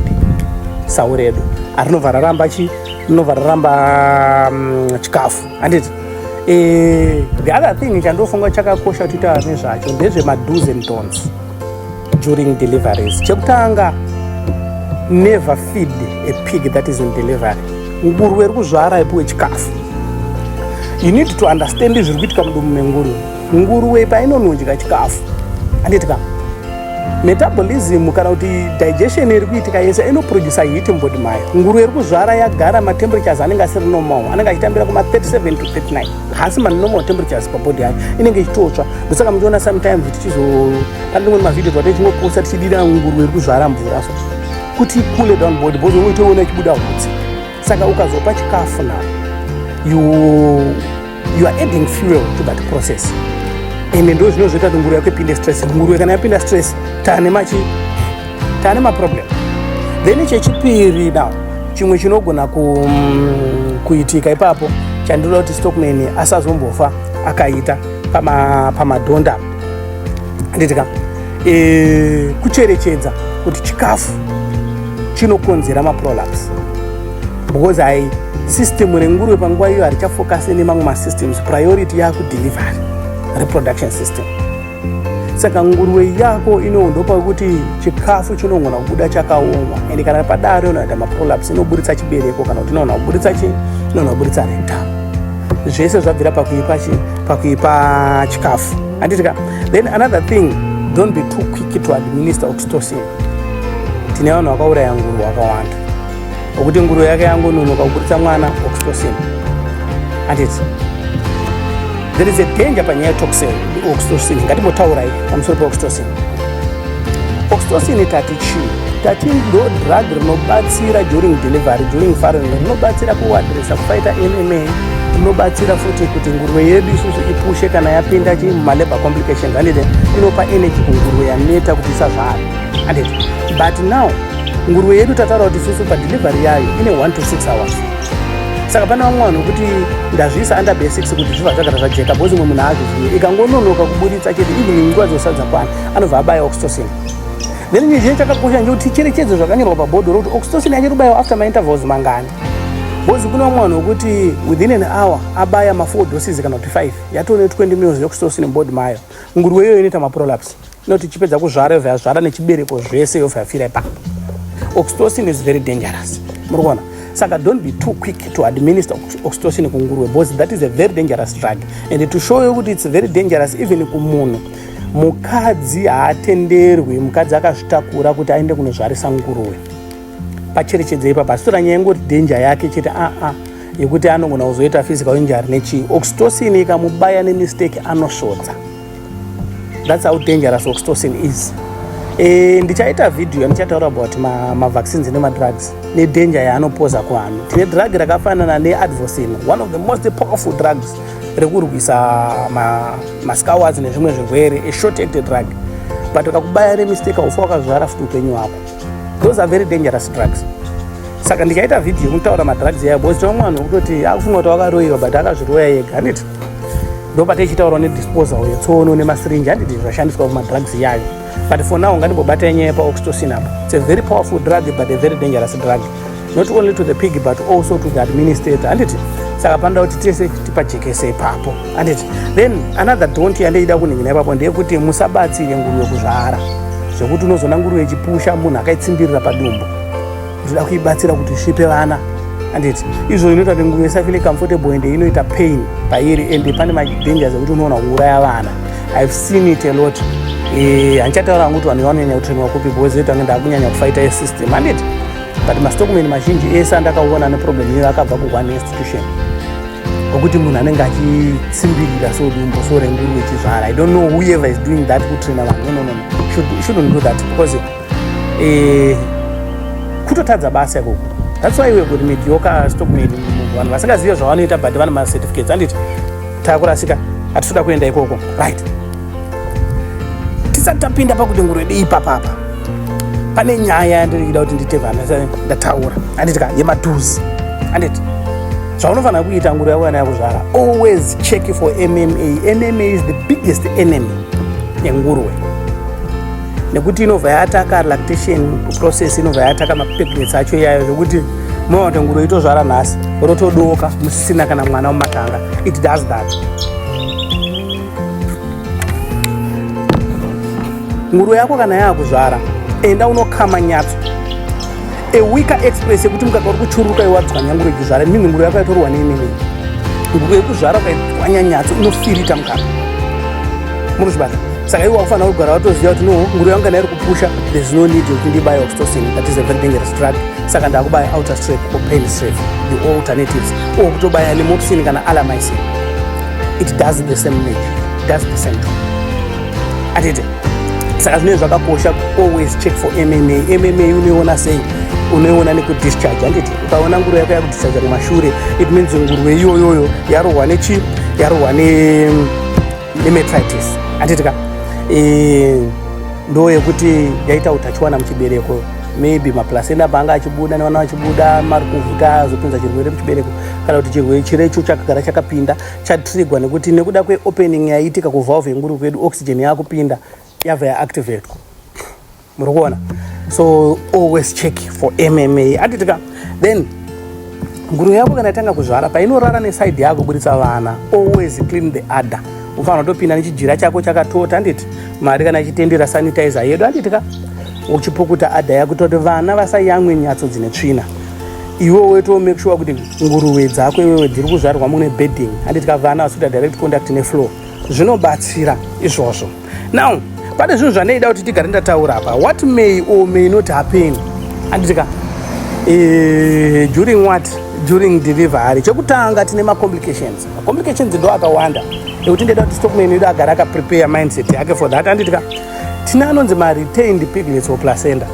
sawo redu arinobva raramba chi rinobva raramba mm, chikafu anditi eh, the other thing chandofunga chakakosha kuti taane zvacho ndezvemaduze mdons during deliveries chekutanga never feed a pig that is in delivery nguruve iri kuzvara ipiwe chikafu you need to understand zviri kuitika mudumu menguruve nguruve painonodya chikafu anditika metabolism kana kuti digestion iri kuitika yese inoproducer heat mubody mayo nguruve iri kuzvara yagara mateemperatures anenge asiri normal anenge achitambira kuma 37 to 39 haasi manormal temperatures pabody yacho inenge ichitotsva ndosaka muchiona sometimes tichizopandimweni mavhideo twate chingoposa tichidira ngurwe iri kuzvara mvura so kuti coole down body because unenge uchiona ichibuda hutsi saka ukazopa chikafu now you, you are adding fuel to that process ende ndo zvino zvoita kuti nguru yako ipinde stress nguru kana yapinda stress tane machi tane maproblem then chechipiri now chimwe chinogona ku, mm, kuitika ipapo chandinoda kuti stockman asazombofa akaita pamadhonda pama nditika e, kucherechedza kuti chikafu chinokonzera maprolaps because i system renguruve panguva iyo harichafokasi nemamwe masystems priority yakudelivery reproduction system saka nguruve yako inoondwa pakuti chikafu chinogona kubuda chakaoma ende kana padaro inoita maprolaps inoburitsa chibereko kana kuti inogona kuburitsa chi inogona kuburitsa rectum zvese zvabvira pakuipa chi pakuipa chikafu handitika then another thing don't be too quick to administer oxytocin tine vanhu vakauraya nguru vakawanda okuti nguruve yake yangononoka kuburitsa mwana oxytocin handiti there is a danger panyaya yetoxin oxytocin ngatimbotaurai pamusoro peoxytocin oxytocin tati chii tati ndo drug rinobatsira during delivery during farin rinobatsira kuwadresa kufaita mma rinobatsira futi kuti nguruve yedu isusu ipushe kana yapinda chii mumalabor complications handiti inopa energy kunguruve yaneta kuti isazvara handiti but now nguruve yedu tataura kuti susu padelivery yayo ine 1 to 6 hours saka pane vamwe vanhu kuti ndazviisa under be 6 kuti zviva zvagara zvajeka bhozi umwe munhu aazvizive ikangononoka kuburitsa chete even nguva dzosadza kwana anobva abaya oxytocin then nyezhinye chakakosha nje kuti ticherechedzo zvakanyorwa pabhodho rokuti oxytocin yanye rubayiwa after maintervals mangani bhozi kune vamwe vanhu vokuti within an hour abaya ma4 doses kana kuti 5 yatone 20 mils yoxytocin mubody mayo nguruve iyoyo inoita maprolaps Not ichipedza kuzvara yobva yazvara nechibereko zvese yobva yafira ipapo. Oxytocin is very dangerous. Muri kuona? Saka don't be too quick to administer oxytocin kunguruwe because that is a very dangerous drug and to show you kuti it's very dangerous even kumunhu mukadzi haatenderwi mukadzi akazvitakura kuti aende kunozvarisa nguruwe pacherechedza ipa pasitora nyaya ingoti dhenja yake chete aa ah, ah, yekuti anogona kuzoita physical injury nechii oxytocin ikamubaya nemistake anosvodza That's how dangerous oxytocin is. E, ndichaita video yandichataura about mavaccines ma nemadrugs nedanger yaanopoza kuvanhu tine drug rakafanana neadvocin one of the most powerful drugs rekurwisa mascowers ma nezvimwe zvirwere a short acted drug but ukakubaya nemistake ufa wakazvara futi upenyu hwako those are very dangerous drugs saka ndichaita video yekutaura madrugs yaya bcause tinomwe vanhu vekutoti akufunga kuti wakaroyiwa but akazviroya yega handiti ndopate ichitaurwa nedisposal yetsono nemasirinji handiti zvashandiswa kumadrugs iyayo but for now ngandimbobata yenyaya yepaoxytocin apo its a very powerful drug but a very dangerous drug not only to the pig but also to the administrator handiti saka panoda kuti tese tipajekese ipapo handiti then another don't yandeida kuningina ipapo ndeyekuti musabatsire nguruve kuzvara zvekuti unozoona nguruve ichipusha munhu akaitsimbirira padumbu Ndoda kuibatsira kuti isvipe vana anditi izvo inoita kuti nguva isafile comfortable ende inoita pain pairi ende pane madangers ekuti unoona kuuraya vana ive seen it a lot eh, handichataura hangu kuti vanhu vanonyanya kutrainwa kupi because ita kunge ndakunyanya kufaita esystem anditi but mastockman mazhinji ese andakaona neproblem iyoyo akabva kuone institution okuti munhu anenge achitsimbirira so dumbo so renguruve chizvara i don't know whoever is doing that kutraina vanhu no no no shouldn't do that because eh, kutotadza basa ikoko that's why we kuti mediocre stock made vanhu vasingazive zvavanoita but vane macertificates anditi takurasika atitoda kuenda ikoko right tisati tapinda pakuti ngurwedi ipapapa pane nyaya yandirikuda kuti ndite vana ndataura anditi ka yematuzi anditi zvaunofanira kuita nguru yako yana yakuzvara always check for mma mma is the biggest enemy yenguruwe nekuti inobva yataka lactation process inobva yataka mapregnancy acho iyayo zvekuti mwana watangura itozvara nhasi rotodoka musisina kana mwana mumatanga it does that nguru yako kana yaakuzvara enda unokama nyatso a weaker express yekuti mukaka uri kuchururuka iwe wadzwanyangura yekuzvara mimhinguro yako yatorwa neinini nguva yekuzvara ukaitwanya nyatso inofirita mukaka munozvibata saka iwe wakufanira kugara watoziva kuti no nguro yangu kana iri kupusha there's no need yekuti ndibaya oxytocin that is a very dangerous drug saka ndakubaya outer strep or pain strep the alternatives or kutobaya lemoxin kana alamicin it does the same thing does the same thing atete saka zvinenge zvakakosha always check for mma mma unoiona sei unoiona nekudischarge handiti ukaona nguru yako yakudischarge kumashure it means ngurwe iyoyoyo yarohwa nechi yarohwa nemetritis handiti ka eh, ndo yekuti yaita utachiwana muchibereko maybe maplasenda paanga achibuda nevana vachibuda mari kuvhuta azopinza chirwere muchibereko kana kuti chirwere chirecho chakagara chakapinda chatrigwa nekuti nekuda kweopening yaiitika kuvalve yenguru kwedu oxygen yakupinda yabva yaactivatwa muri kuona so always check for mma atitika then nguru yako kana itanga kuzvara painorara nesaidi yako buritsa vana always clean the adder ufanira kutopinda nechijira chako chakatota handiti mari kana ichitendera sanitizer yedu handiti ka uchipukuta adha yakutoti vana vasayamwe nyatso dzine tsvina iwe weto make sure kuti nguruve dzako iwewe dziri kuzvarwa mune bedding handiti kavana vasuta direct contact neflow zvinobatsira izvozvo now pane zvinhu zvandaida kuti tigare ndataura apa what may or may not happen handitika eh, during what during delivery chekutanga tine macomplications macomplications ndo akawanda ekuti ndaida kuti stockman yedu agara akaprepare mindset yake for that handitika tine anonzi maretained piglets or placenta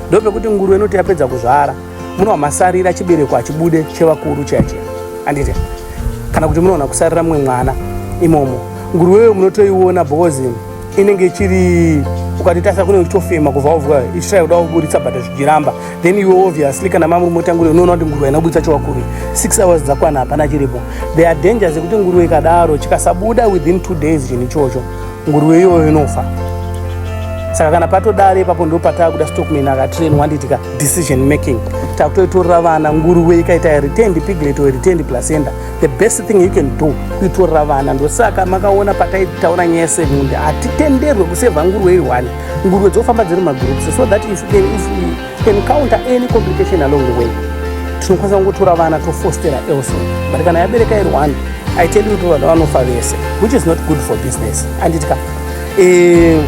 ndopekuti nguruve inoti yapedza kuzvara munowa masarira chibereko hachibude chevakuru chache andite kana kuti munoona kusarira mumwe mwana imomo nguruveyo munotoiona because inenge ichiri ukatitasa kunenge uchitofema kubva wavwa ichitrai kuda kuburitsa but zvichiramba then iwe obviously kana mamurume otanguri unoona kuti nguruve inoburitsa chewakuri six hours dzakwana hapana chiripo there are dangers ekuti nguruve ikadaro chikasabuda within two days chinhu ichocho Nguruwe iyoyo inofa. Saka kana patodare ipapo ndipo pataakuda stockman akatrain wanditika decision making. Takutoitorera vana nguruwe ikaita returned piglet or returned placenta. The best thing you can do kuitorera vana. Ndosaka makaona pataitaura nyaya semunde hatitenderwe kuseva nguruwe iwani. Nguruwe dzofamba dziri magroups so that if, if, if You can counter any complication along the way. Tinokwanisa kungotora vana tofostera else. But kana yabereka iri one, I tell you kuti vana vanofa vese, which is not good for business. Anditika. Eh,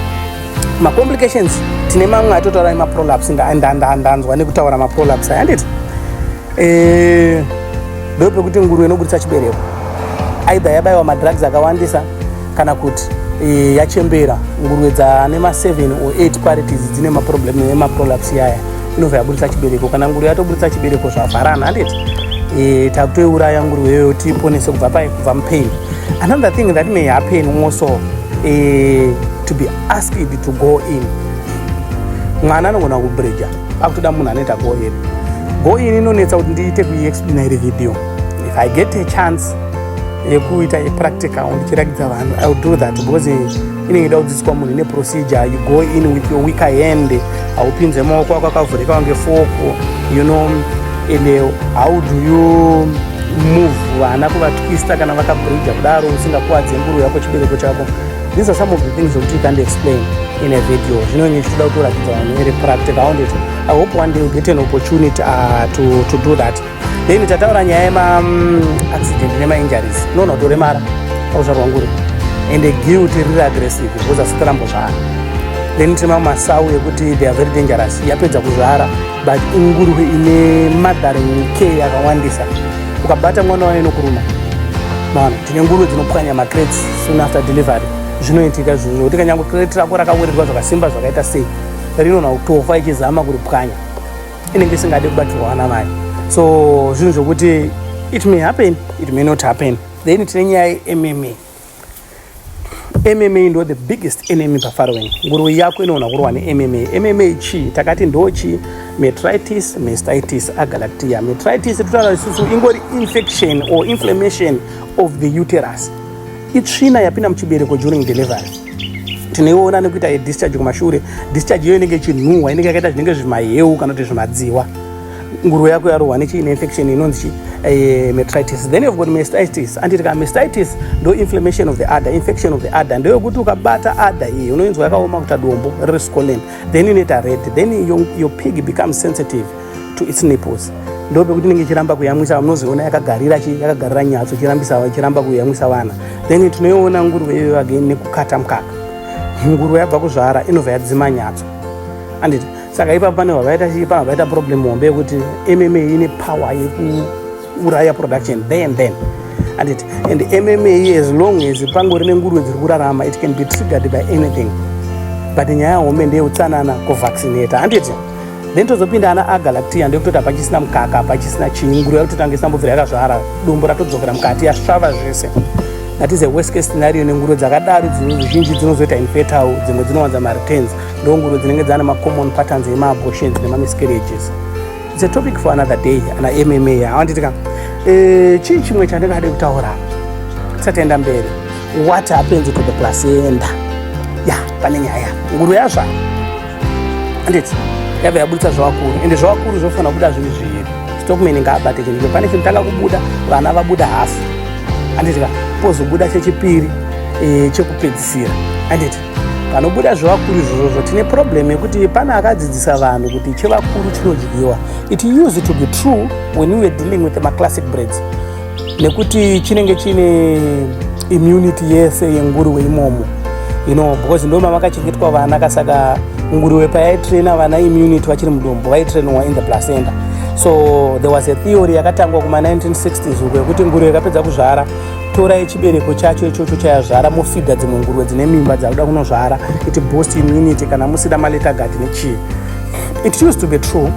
ma complications tine mamwe atotaura ema prolapse nga ndanzwa nekutaura ma prolapse aya handiti? Eh, ndope kuti nguruwe inoburitsa chibereko. Either yabaiwa ma drugs akawandisa kana kuti e, yachembera nguruve dzane ma7 or 8 parities dzine maproblem emaprolaps yaya inobva yaburitsa chibereko kana nguruve yatoburitsa chibereko zvavharana handiti e, takutoiuraya nguruve iyoyo tiiponese kubva pai kubva mupain another thing that may happen also e, to be asked to go in mwana anogona kubreja akutoda munhu anoita go in go in inonetsa kuti ndiite kuiexplaina iri video if i get a chance yekuita yepractical ndichirakidza vanhu i will do that because inenge ida kudzidziswa munhu ine procedure you go in with your weaker hand haupinze maoko ako akavhurika wange foko you know and eh, how do you move vana kuvatwista kana vakabridha kudaro usingakuwadze nguru yako chibereko chako these are some of the things zokuti you can't explain in a video zvinonge zvichitoda kutoratidza vanhu iri practical aondecho i hope one day you get an opportunity uh, to, to do that then tataura nyaya yema mm, accident nema injuries unoona kuti uremara pakuzvarwa nguri and guilt riri aggressive because asikarambo zvara then tine mamwe masawu ekuti they are very dangerous yapedza kuzvara but ingurwe ine mothering care yakawandisa ukabata mwana wayo inokuruma maona tine ngurwe dzinopwanya macrates soon after delivery zvinoitika zvinhu zvokuti kanyangwe crate rako rakawirirwa zvakasimba zvakaita sei rinonha kutofa ichizama kuripwanya inenge isingade kubatirwa vana vayo so zvinhu zvokuti it may happen it may not happen then tine nyaya yemma mma ndo the biggest enemy pafarowing nguruve yako inoona kurwa nemma mma chii takati ndo chii metritis mestitis agalactia metritis totaura isusu ingori infection or inflammation of the uterus itsvina yapinda muchibereko during delivery tinoiona nekuita yedischarge kumashure discharge iyo inenge ichinhuhwa inenge yakaita zvinenge zvimaheu kana kuti zvimadziwa nguruve yako yarohwa nechii neinfection inonzi chii eh, metritis then you've got mastitis anditi ka mastitis ndo inflammation of the adder infection of the adder ndeyokuti ukabata adder iyi unoinzwa yakaoma kuta dombo riri scolen then inoita red then your, your pig becomes sensitive to its nipples ndipo pekuti inenge ichiramba kuyamwisa munozoona yakagarira yakagarira nyatso ichirambisa ichiramba kuyamwisa vana then tinoiona nguruve iyoyo again nekukata mukaka nguruve yabva kuzvara inobva yadzima nyatso anditi saka ipapo pane vavaita chii pavavaita problem hombe yekuti mma ine power yeku uraya production there and then and it and mma as long as pangori nenguruve dziri kurarama it can be triggered by anything but nyaya hombe ndeyeutsanana kuvaccinata handiti then tozopinda ana agalactia ndekutoti hapachisina mukaka hapachisina chinyi nguruve yakutotanga isambobvira yakazvara dumbu ratodzokera mukati yasvava zvese that is a worst case scenario nenguruve dzakadaro zhinji dzinozoita infertile dzimwe dzinowanza mareturns ndonguruve dzinenge dzana macommon patterns emaabortions nemamiscarriages It's a topic for another day ana MMA awanditi ka eh chii chimwe chandingade kutaura tisatenda mberi what happens to the placenta ya pane nyaya nguru yazva anditi yabva yabuditsa zvavakuru ende zvavakuru zvofanira kubuda zvinhu zviri stockman ngaabate chinhu pane chinhu tanga kubuda vana vabuda hafu anditi ka pozobuda chechipiri eh, chekupedzisira anditi panobuda zvevakuru izvozvo tine problem yekuti pane akadzidzisa vanhu kuti chevakuru chinodyiwa it used to be true when we were dealing with maclassic breads nekuti chinenge chine immunity yese yenguruwe imomo you know because ndo mamakachengetwa vana kasaka nguruwe payaitraina vana immunity vachiri mudumbu vaitrainwa in the placenta so there was a theory yakatangwa kuma 1960s uko yekuti nguruwe ikapedza kuzvara torai chibereko chacho ichocho chayazvara mofidha dzimwe nguruve dzine mimba dzakuda kunozvara it boost immunity kana musida maleta gati nechii it used to be true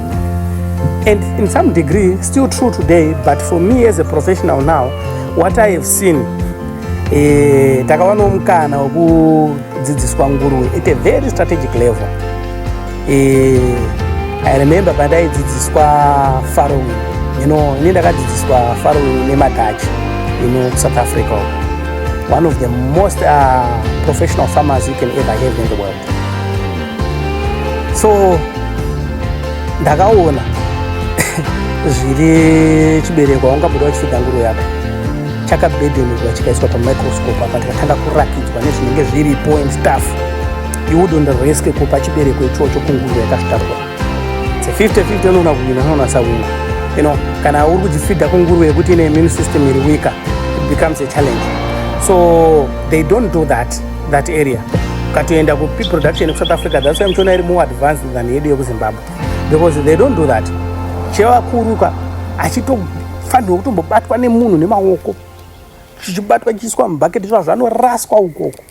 and in some degree still true today but for me as a professional now what i have seen eh, takavanawo mukana wekudzidziswa nguruve at a very strategic level Eh, I remember pandaidzidziswa farrowing you know ini ndakadzidziswa farrowing nemadutch you know south africa one of the most uh, professional farmers you can ever have in the world so ndakaona zviri chibereko waungabuda wachifiga nguru yako chakabedenurwa chikaiswa pamicroscope apa ndikatanga kurakidzwa nezvinenge zviripo and stuff you wouldn't risk kupa chibereko ichocho kunguva yakasvitakwa se 50-50 unoona kuwina unonasa wina you know kana uri kudzifidha kunguruve yekuti ine immune system iri wika it becomes a challenge so they don't do that that area ukatoenda kupi production kusouth africa that's why muchiona iri more advanced than yedu yekuzimbabwe because they don't do that chevakuruka achitofanirwa kutombobatwa nemunhu nemaoko chichibatwa chiiswa mubhaketi zva zvanoraswa ukoko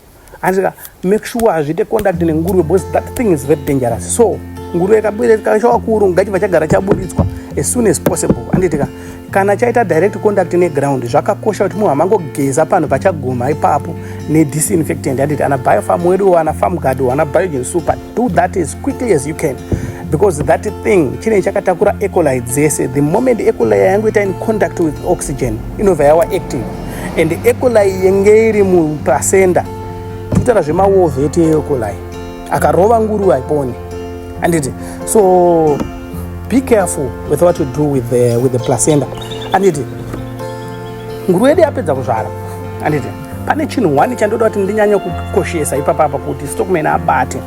Andika make sure hazviite contact nenguruve because that thing is very dangerous. So nguruve ikabwira ikaisha wakuru ngachi vachagara chaburitswa as soon as possible. Anditika kana chaita direct contact neground zvakakosha kuti munhu amangogeza panhu pachaguma ipapo nedisinfectant anditi ana biofarm wedu ana farm guard ana biogen super do that as quickly as you can because that thing chinenge chakatakura ecoli dzese the moment ecoli yangu ita in contact with oxygen inobva yawa active and ecolai yenge iri muplacenda titaura zvemawove ete ecolai akarova nguru haiponi anditi so be careful with what you do with the, with the placenda anditi nguru yedu yapedza kuzvara anditi pane chinhu one chandoda kuti ndinyanye kukoshesa ipapapa kuti stockman abate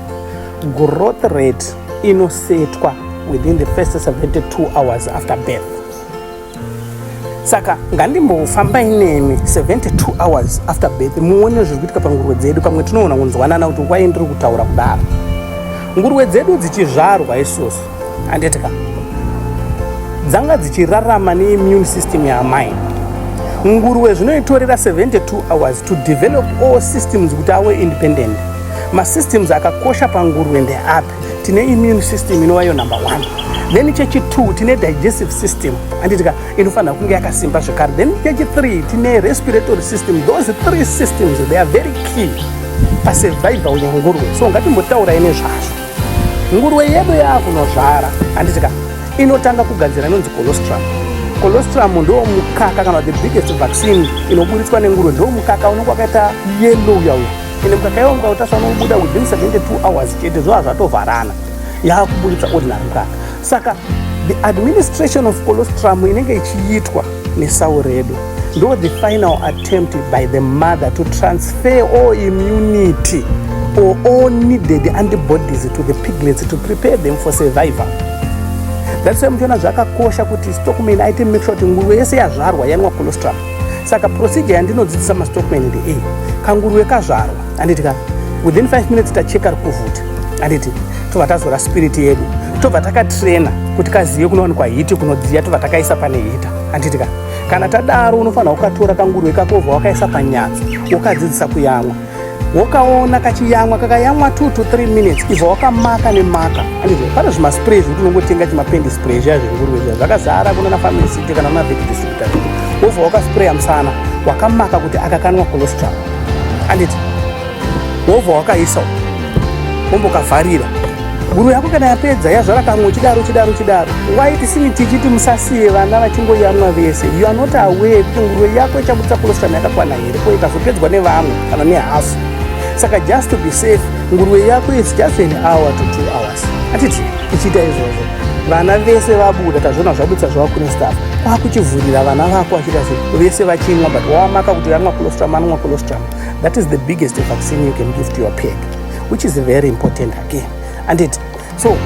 growth rate inosetwa within the first 72 hours after birth saka ngandimbofamba inemi 72 hours after birth muone zviri kuitika panguruve dzedu pamwe tinoona kunzwanana kuti wai ndiri kutaura kudaro nguruve dzedu dzichizvarwa isusu handiti ka dzanga dzichirarama neimmune system yaamai nguruve zvinoitorera 72 hours to develop all systems kuti awe independent masystems akakosha panguruve ndeapi tine immune system inova iyo number one then chechitwo tine digestive system anditika inofanira kunge yakasimba zvekare then chechithree tine respiratory system those three systems they are very key pasurvival yenguruve so ngatimbotaura ine zvazvo nguruve yedu yaakunozvara anditika inotanga kugadzira inonzi colostrum colostrum ndo mukaka kana the biggest vaccine inoburitswa nenguruve ndo mukaka unenge wakaita yellow uyauya ende mukaka iwo mukaka utasva unobuda within 72 hours chete zvova zvatovharana yaakuburitsa ordinary mukaka saka the administration of colostrum inenge ichiitwa nesau redu ndo the final attempt by the mother to transfer all immunity or all needed antibodies to the piglets to prepare them for survival that's why muchiona zvakakosha kuti stockman aite make sure kuti nguruve yese yazvarwa yanwa colostrum saka procedure yandinodzidzisa mastockman ndeiyi kanguruve kazvarwa anditi ka within 5 minutes tacheka rikuvhuta anditi tobva tazora spirit yedu tobva takatraina kuti kazive kunowanikwa hiti kunodziya tobva takaisa pane hita anditi ka kana tadaro unofanira kukatora kanguruve kako ubva wakaisa panyatso wokadzidzisa kuyamwa wokaona kachiyamwa kakayamwa 2 to 3 minutes ibva wakamaka nemaka pane zvimaspray zvekuti unongotenga chimapendi spray zviya zvenguruve zviya zvakazara kunana family city kana kuna veki distributor wobva wakaspraya musana wakamaka kuti akakanwa colostrum anditi wobva wakaisa wombokavharira guru yako kana yapedza yazvara kamwe uchidaro uchidaro uchidaro waiti sini tichiti musasiye vana vachingoyamwa vese you are not aware kuti nguruve yako ichabudisa colostrum yakakwana iriko ikazopedzwa nevamwe kana nehafu saka just to be safe nguruve yako is just an hour to two hours atiti ichiita izvozvo vana vese vabuda tazviona zvabudisa zvavakune staff kwakuchivhurira vana vako vachiita zve vese vachimwa but wamaka kuti yamwa colostrum anonwa colostrum that is the biggest vaccine you can give to your peg which is very important again and it so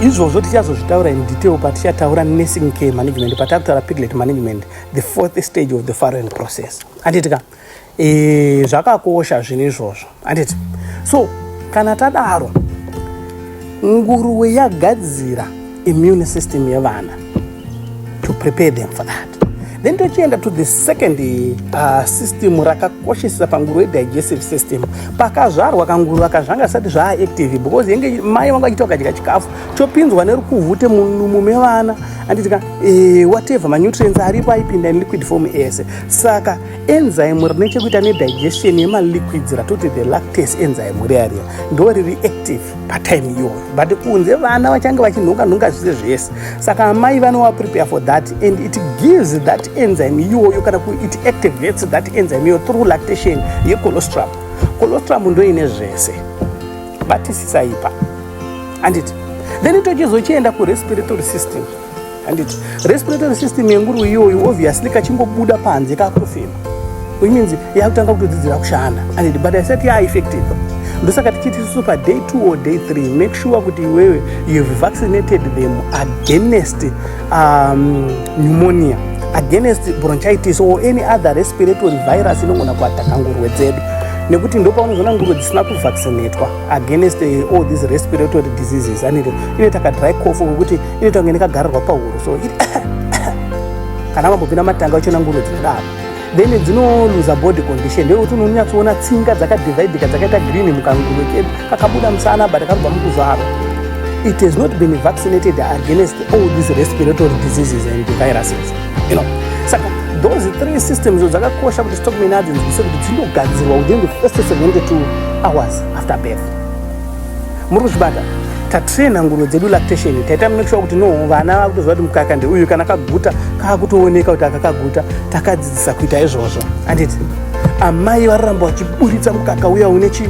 izvozvo tichazozvitaura in detail patichataura nursing care management patakutaura piglet management the fourth stage of the foreign process handiti ka e, zvakakosha zvinhu izvozvo handiti so kana tadaro nguruwe yagadzira immune system yevana to prepare them for that then tochienda to the second uh, system rakakoshesesa panguruwe digestive system pakazvarwa kanguruwe ka zvanga zvisati zvaaactive because yenge mai vanga vachita vakadya chikafu chopinzwa nerukuvhute mumume vana handiti ka eh, whatever manutrients aripo aipinda in liquid form ese saka enzyme rine chekuita nedigestion yemaliquids ratoti the lactase enzyme riya riya ndo riri active patime iyoyo but kunze vana vachange vachinhonga nhonga zvise zvese saka amai vanowa prepare for that and it gives that enzyme iyoyo kana kuti it activates that enzyme iyoyo through lactation yecolostrum colostrum ndoine zvese batisisa ipa handiti then tochizochienda kurespiratory system handiti respiratory system yenguru iyoyo obviously kachingobuda panze kakutofema which means yakutanga kutodzidzira kushanda handiti but isati yaaeffective ndosaka tichiti isusu paday two or day three make sure kuti iwewe you've vaccinated them against um, pneumonia against bronchitis or any other respiratory virus inogona kuataka ngurwe dzedu nekuti ndopaunozoona ngurwe dzisina kuvaccinatwa against eh, all these respiratory diseases anit inoita kadry cof wekuti inoita kunge nekagarirwa pahuro so kana vambopinda matanga uchiona ngurwe dzinodaro then dzinoluza body condition ndeyekuti unonyatsoona tsinga dzakadividika dzakaita green mukanguve kedu kakabuda musana but kanobva mukuzvaro it has not been vaccinated against all these respiratory diseases and viruses you know saka those three systems o dzakakosha kuti stock menadzo nzise kuti dzinogadzirwa within the first 72 hours after birth muri kuzvibata tatraina nguruve dzedu lactation taita make sure kuti no vana vakutoziva kuti mukaka ndeuyu kana kaguta kaakutooneka kuti akakaguta takadzidzisa kuita izvozvo anditi amai vararamba vachiburitsa mukaka uya une chi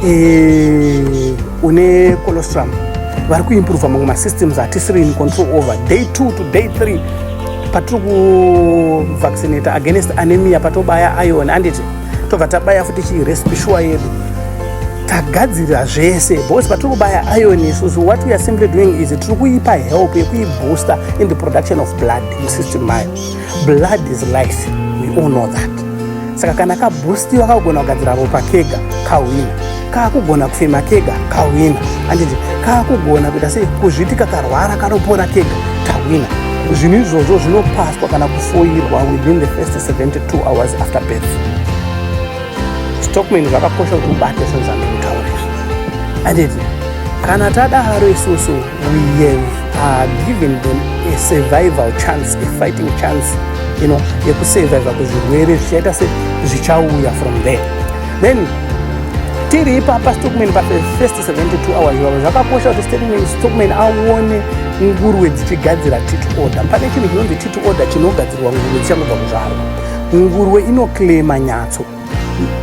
eh, une colostrum vari kuimprova mamwe masystems atisiri in control over day two to day three patiri kuvaccinata against anemia patobaya ion anditi tobva tabaya futi chii recipe shuwa yedu tagadzirira zvese because patiri kubaya iron isusu what weare simply doing is tiri kuipa help yekuibooster in the production of blood musystem mayo blood is life we all know that saka kana kaboostiwa kakugona kugadzira ropa kega kahwina kakugona kufema kega kahwina anditi kakugona kuita sei kuzviti kakarwara kanopona kega tahwina zvinhu izvozvo zvinopaswa kana kufoirwa within the first 72 hours after birth stockman zvakakosha kuti ubate zvinhu zvandikutaura izvi anditi kana tadaro isusu we have uh, given them a survival chance a fighting chance you know yekusurviva kuzvirwere zvichaita se zvichauya from there then tiri ipapa stockman pafirst 72 hours ivavo zvakakosha kuti statement stockman aone nguruwe dzichigadzira tit order pane chinhu chinonzi tit order chinogadzirwa nguruwe dzichangobva kuzvarwa nguruwe inoclaima nyatso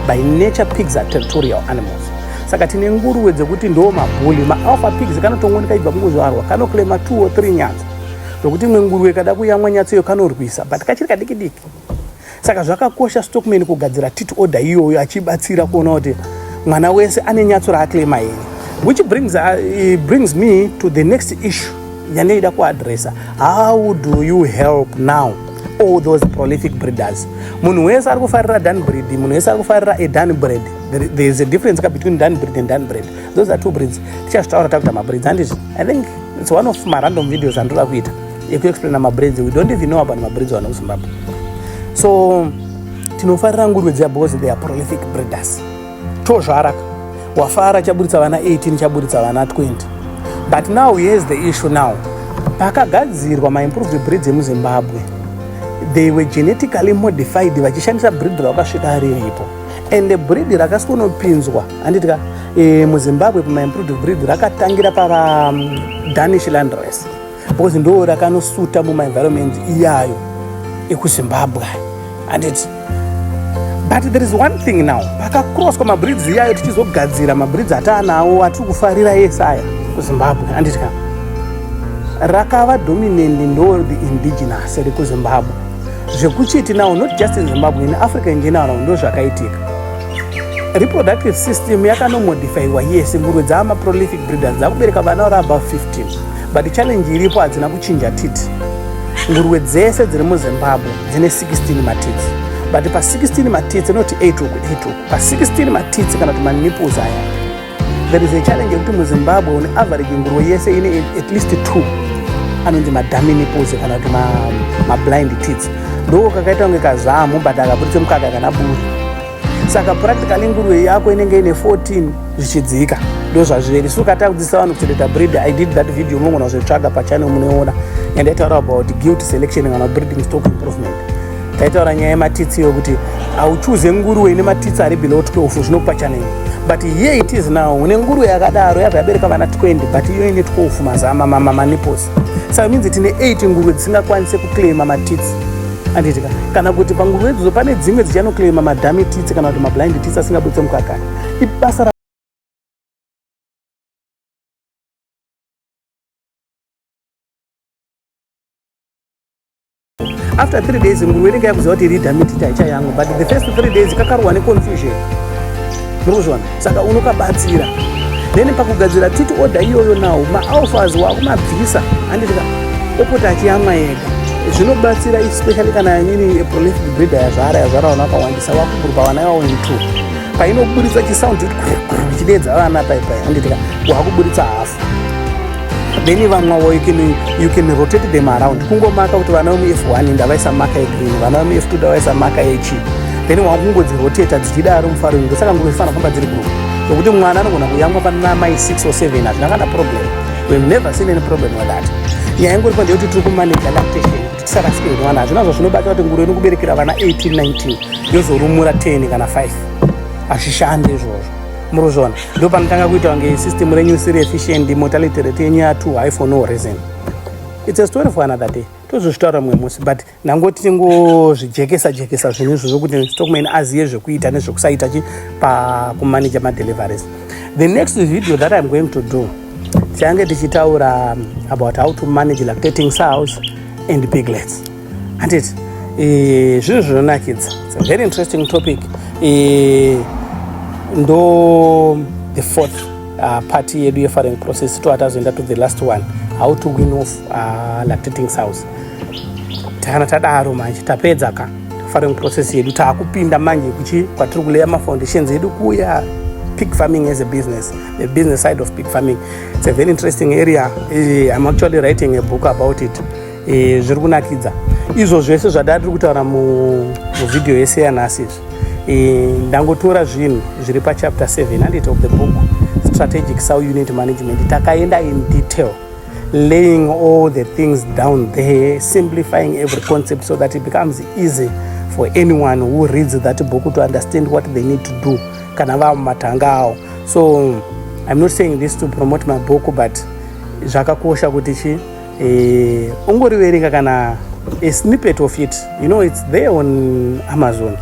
by nature pigs are territorial animals saka tine nguruwe dzekuti ndo mabhuli maalpha pigs kanotongo ndikaibva kungozvarwa kanoclaima 2 or 3 nyatso zvokuti imwe nguruwe kada kuyamwa nyatso iyo kanorwisa but kachiri kadikidiki Saka zvakakosha stockman kugadzira tit order iyoyo achibatsira kuona kuti mwana wese ane nyatso raaclaima here which brings, uh, brings me to the next issue yandaida kuadressa how do you help now all those prolific breeders munhu wese ari kufarira dan breed munhu wese ari kufarira adan bread there is a difference ka between dan breed and dan bread those are two breeds tichazvitaura takuita mabreeds anditi i think it's one of marandom videos andoda kuita yekuexplaina mabridge we don't even know about mabridge vana kuzimbabwe so tinofarira nguruve dziya because they are prolific breeders tozvara wafara chaburitsa vana 18 chaburitsa vana 20 but now here's the issue now pakagadzirwa maimproved breeds emuzimbabwe they were genetically modified vachishandisa breed rakasvika riripo and breed rakasikonopinzwa anditika e, eh, muzimbabwe pamaimproved breed rakatangira pava mm, danish land race because ndo rakanosuta mumaenvironment iyayo ekuzimbabwe handiti but there is one thing now pakacrosswa mabridge iyayo tichizogadzira mabridge ataanawo atiri kufarira ese aya kuzimbabwe handiti ka rakava dominant ndo the indigenous rekuzimbabwe zvekuchiti now not just in zimbabwe in africa in general ndo zvakaitika reproductive system yakanomodifyiwa yese ngurwe dzaamaprolific breeders dzakubereka vana vari above 15 but challenge iripo hadzina kuchinja titi nguruwe dzese dziri muzimbabwe dzine 16 matitsi but pa 16 matitsi inoti 8 uku 8 uku pa 16 matitsi kana kuti maniples aya there is a challenge yekuti muzimbabwe une average nguruwe yese ine at least two anonzi madami niples kana kuti mablind ma tits ndoko kakaita kunge kazamu but akaburitse mukaka kana buri saka practically nguruve yako inenge ine 14 zvichidzika ndozvazviri so ukatanga kudzidzisa vanhu kuchengeta breed i did that video munogona kuzotsvaga pachannel munoiona yandaitaura about guilt selection kana breeding stock improvement taitaura nyaya yematitsi iyo kuti hauchuze nguruve ine matitsi ari below 12 zvinokupa channel but here it is now une nguruve yakadaro yabva yabereka vana 20 but iyo ine 12 mazama mamaniposi saka minzi tine 8 nguruve dzisingakwanise kuclaima matitsi Anditika kana kuti panguva idzo pane dzimwe dzichanoklaima madhami titsi kana kuti mablind titsi asingabuditse mukaka ibasa ra after three days nguruve inenge yakuziva kuti iri dhamiti taicha yangu but the first three days kakarohwa neconfusion muri kuzviona saka unokabatsira then pakugadzira titi oda iyoyo nawo maalfas wakumabvisa anditika opota achiyamwa ega zvinobatsira especially kana nyini eprolific breeder yazvara yazvara vana vakawandisa wakuburuka vana ivavo in two painoburitsa chisound ichidedza vana paipai anditika wakuburitsa hafu then vamwawo you can, you can rotate them around kungomaka kuti vana vemu f1 ndavaisa maka yegreen vana vemu f2 ndavaisa maka yechi then wakungodziroteta dzichidaro mufaro ingo saka nguva ifanira kufamba dziri group nokuti mwana anogona kuyamwa pana mai 6 or 7 hazvina kana problem we never seen any problem with that nyaya ingoripo ndeyekuti tiri kumanage lactation kuti tisarasike mwana hazvina zvazvinobata kuti nguru ino kuberekera vana 18 19 yozorumura 10 kana 5 hazvishande izvozvo muruzvona ndo panotanga kuita kunge system renyu siri efficient mortality rate yenyu ya two high for no reason its a story for another day tozozvitaura mumwe musi but nangoti tingozvijekesa jekesa zvinhu izvo zvokuti stockman azive zvekuita nezvekusaita chi pakumaneja madeliveries the next video that iam going to do tichange tichitaura about how to manage lactating sows and piglets handiti eh, zvinhu zvinonakidza very interesting topic eh, ndo the fourth uh, party yedu yefaring process to atazoenda to the last one how to win off uh, lactating south kana tadaro manje tapedza ka faring process yedu taakupinda manje kuchi kwatiri kuleya mafoundations edu kuya pig farming as a business the business side of pig farming it's a very interesting area eh, i'm actually writing a book about it e, zviri kunakidza izvo zvese zvadava tiri kutaura muvhidhiyo yese yanhasi izvi e, ndangotora zvinhu zviri pachapter 7 handiti of the book strategic sow unit management takaenda in detail laying all the things down there simplifying every concept so that it becomes easy for anyone who reads that book to understand what they need to do kana vava mumatanga awo so i'm not saying this to promote my book but zvakakosha kuti chii eh, ongoriverenga kana a snippet of it you know it's there on amazon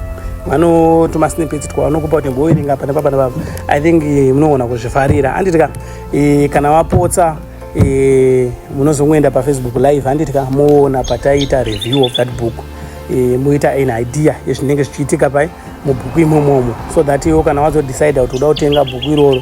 vanotuma snippets twavanokupa kuti mboverenga apa nepapa nepapa i think eh, munogona kuzvifarira handiti ka eh, kana vapotsa eh, munozongoenda pafacebook live handiti ka moona pataita review of that book moita an idea yezvinenge zvichiitika pai mubhuku imomomo so that iwo kana wazodecida kuti uda kutenga bhuku iroro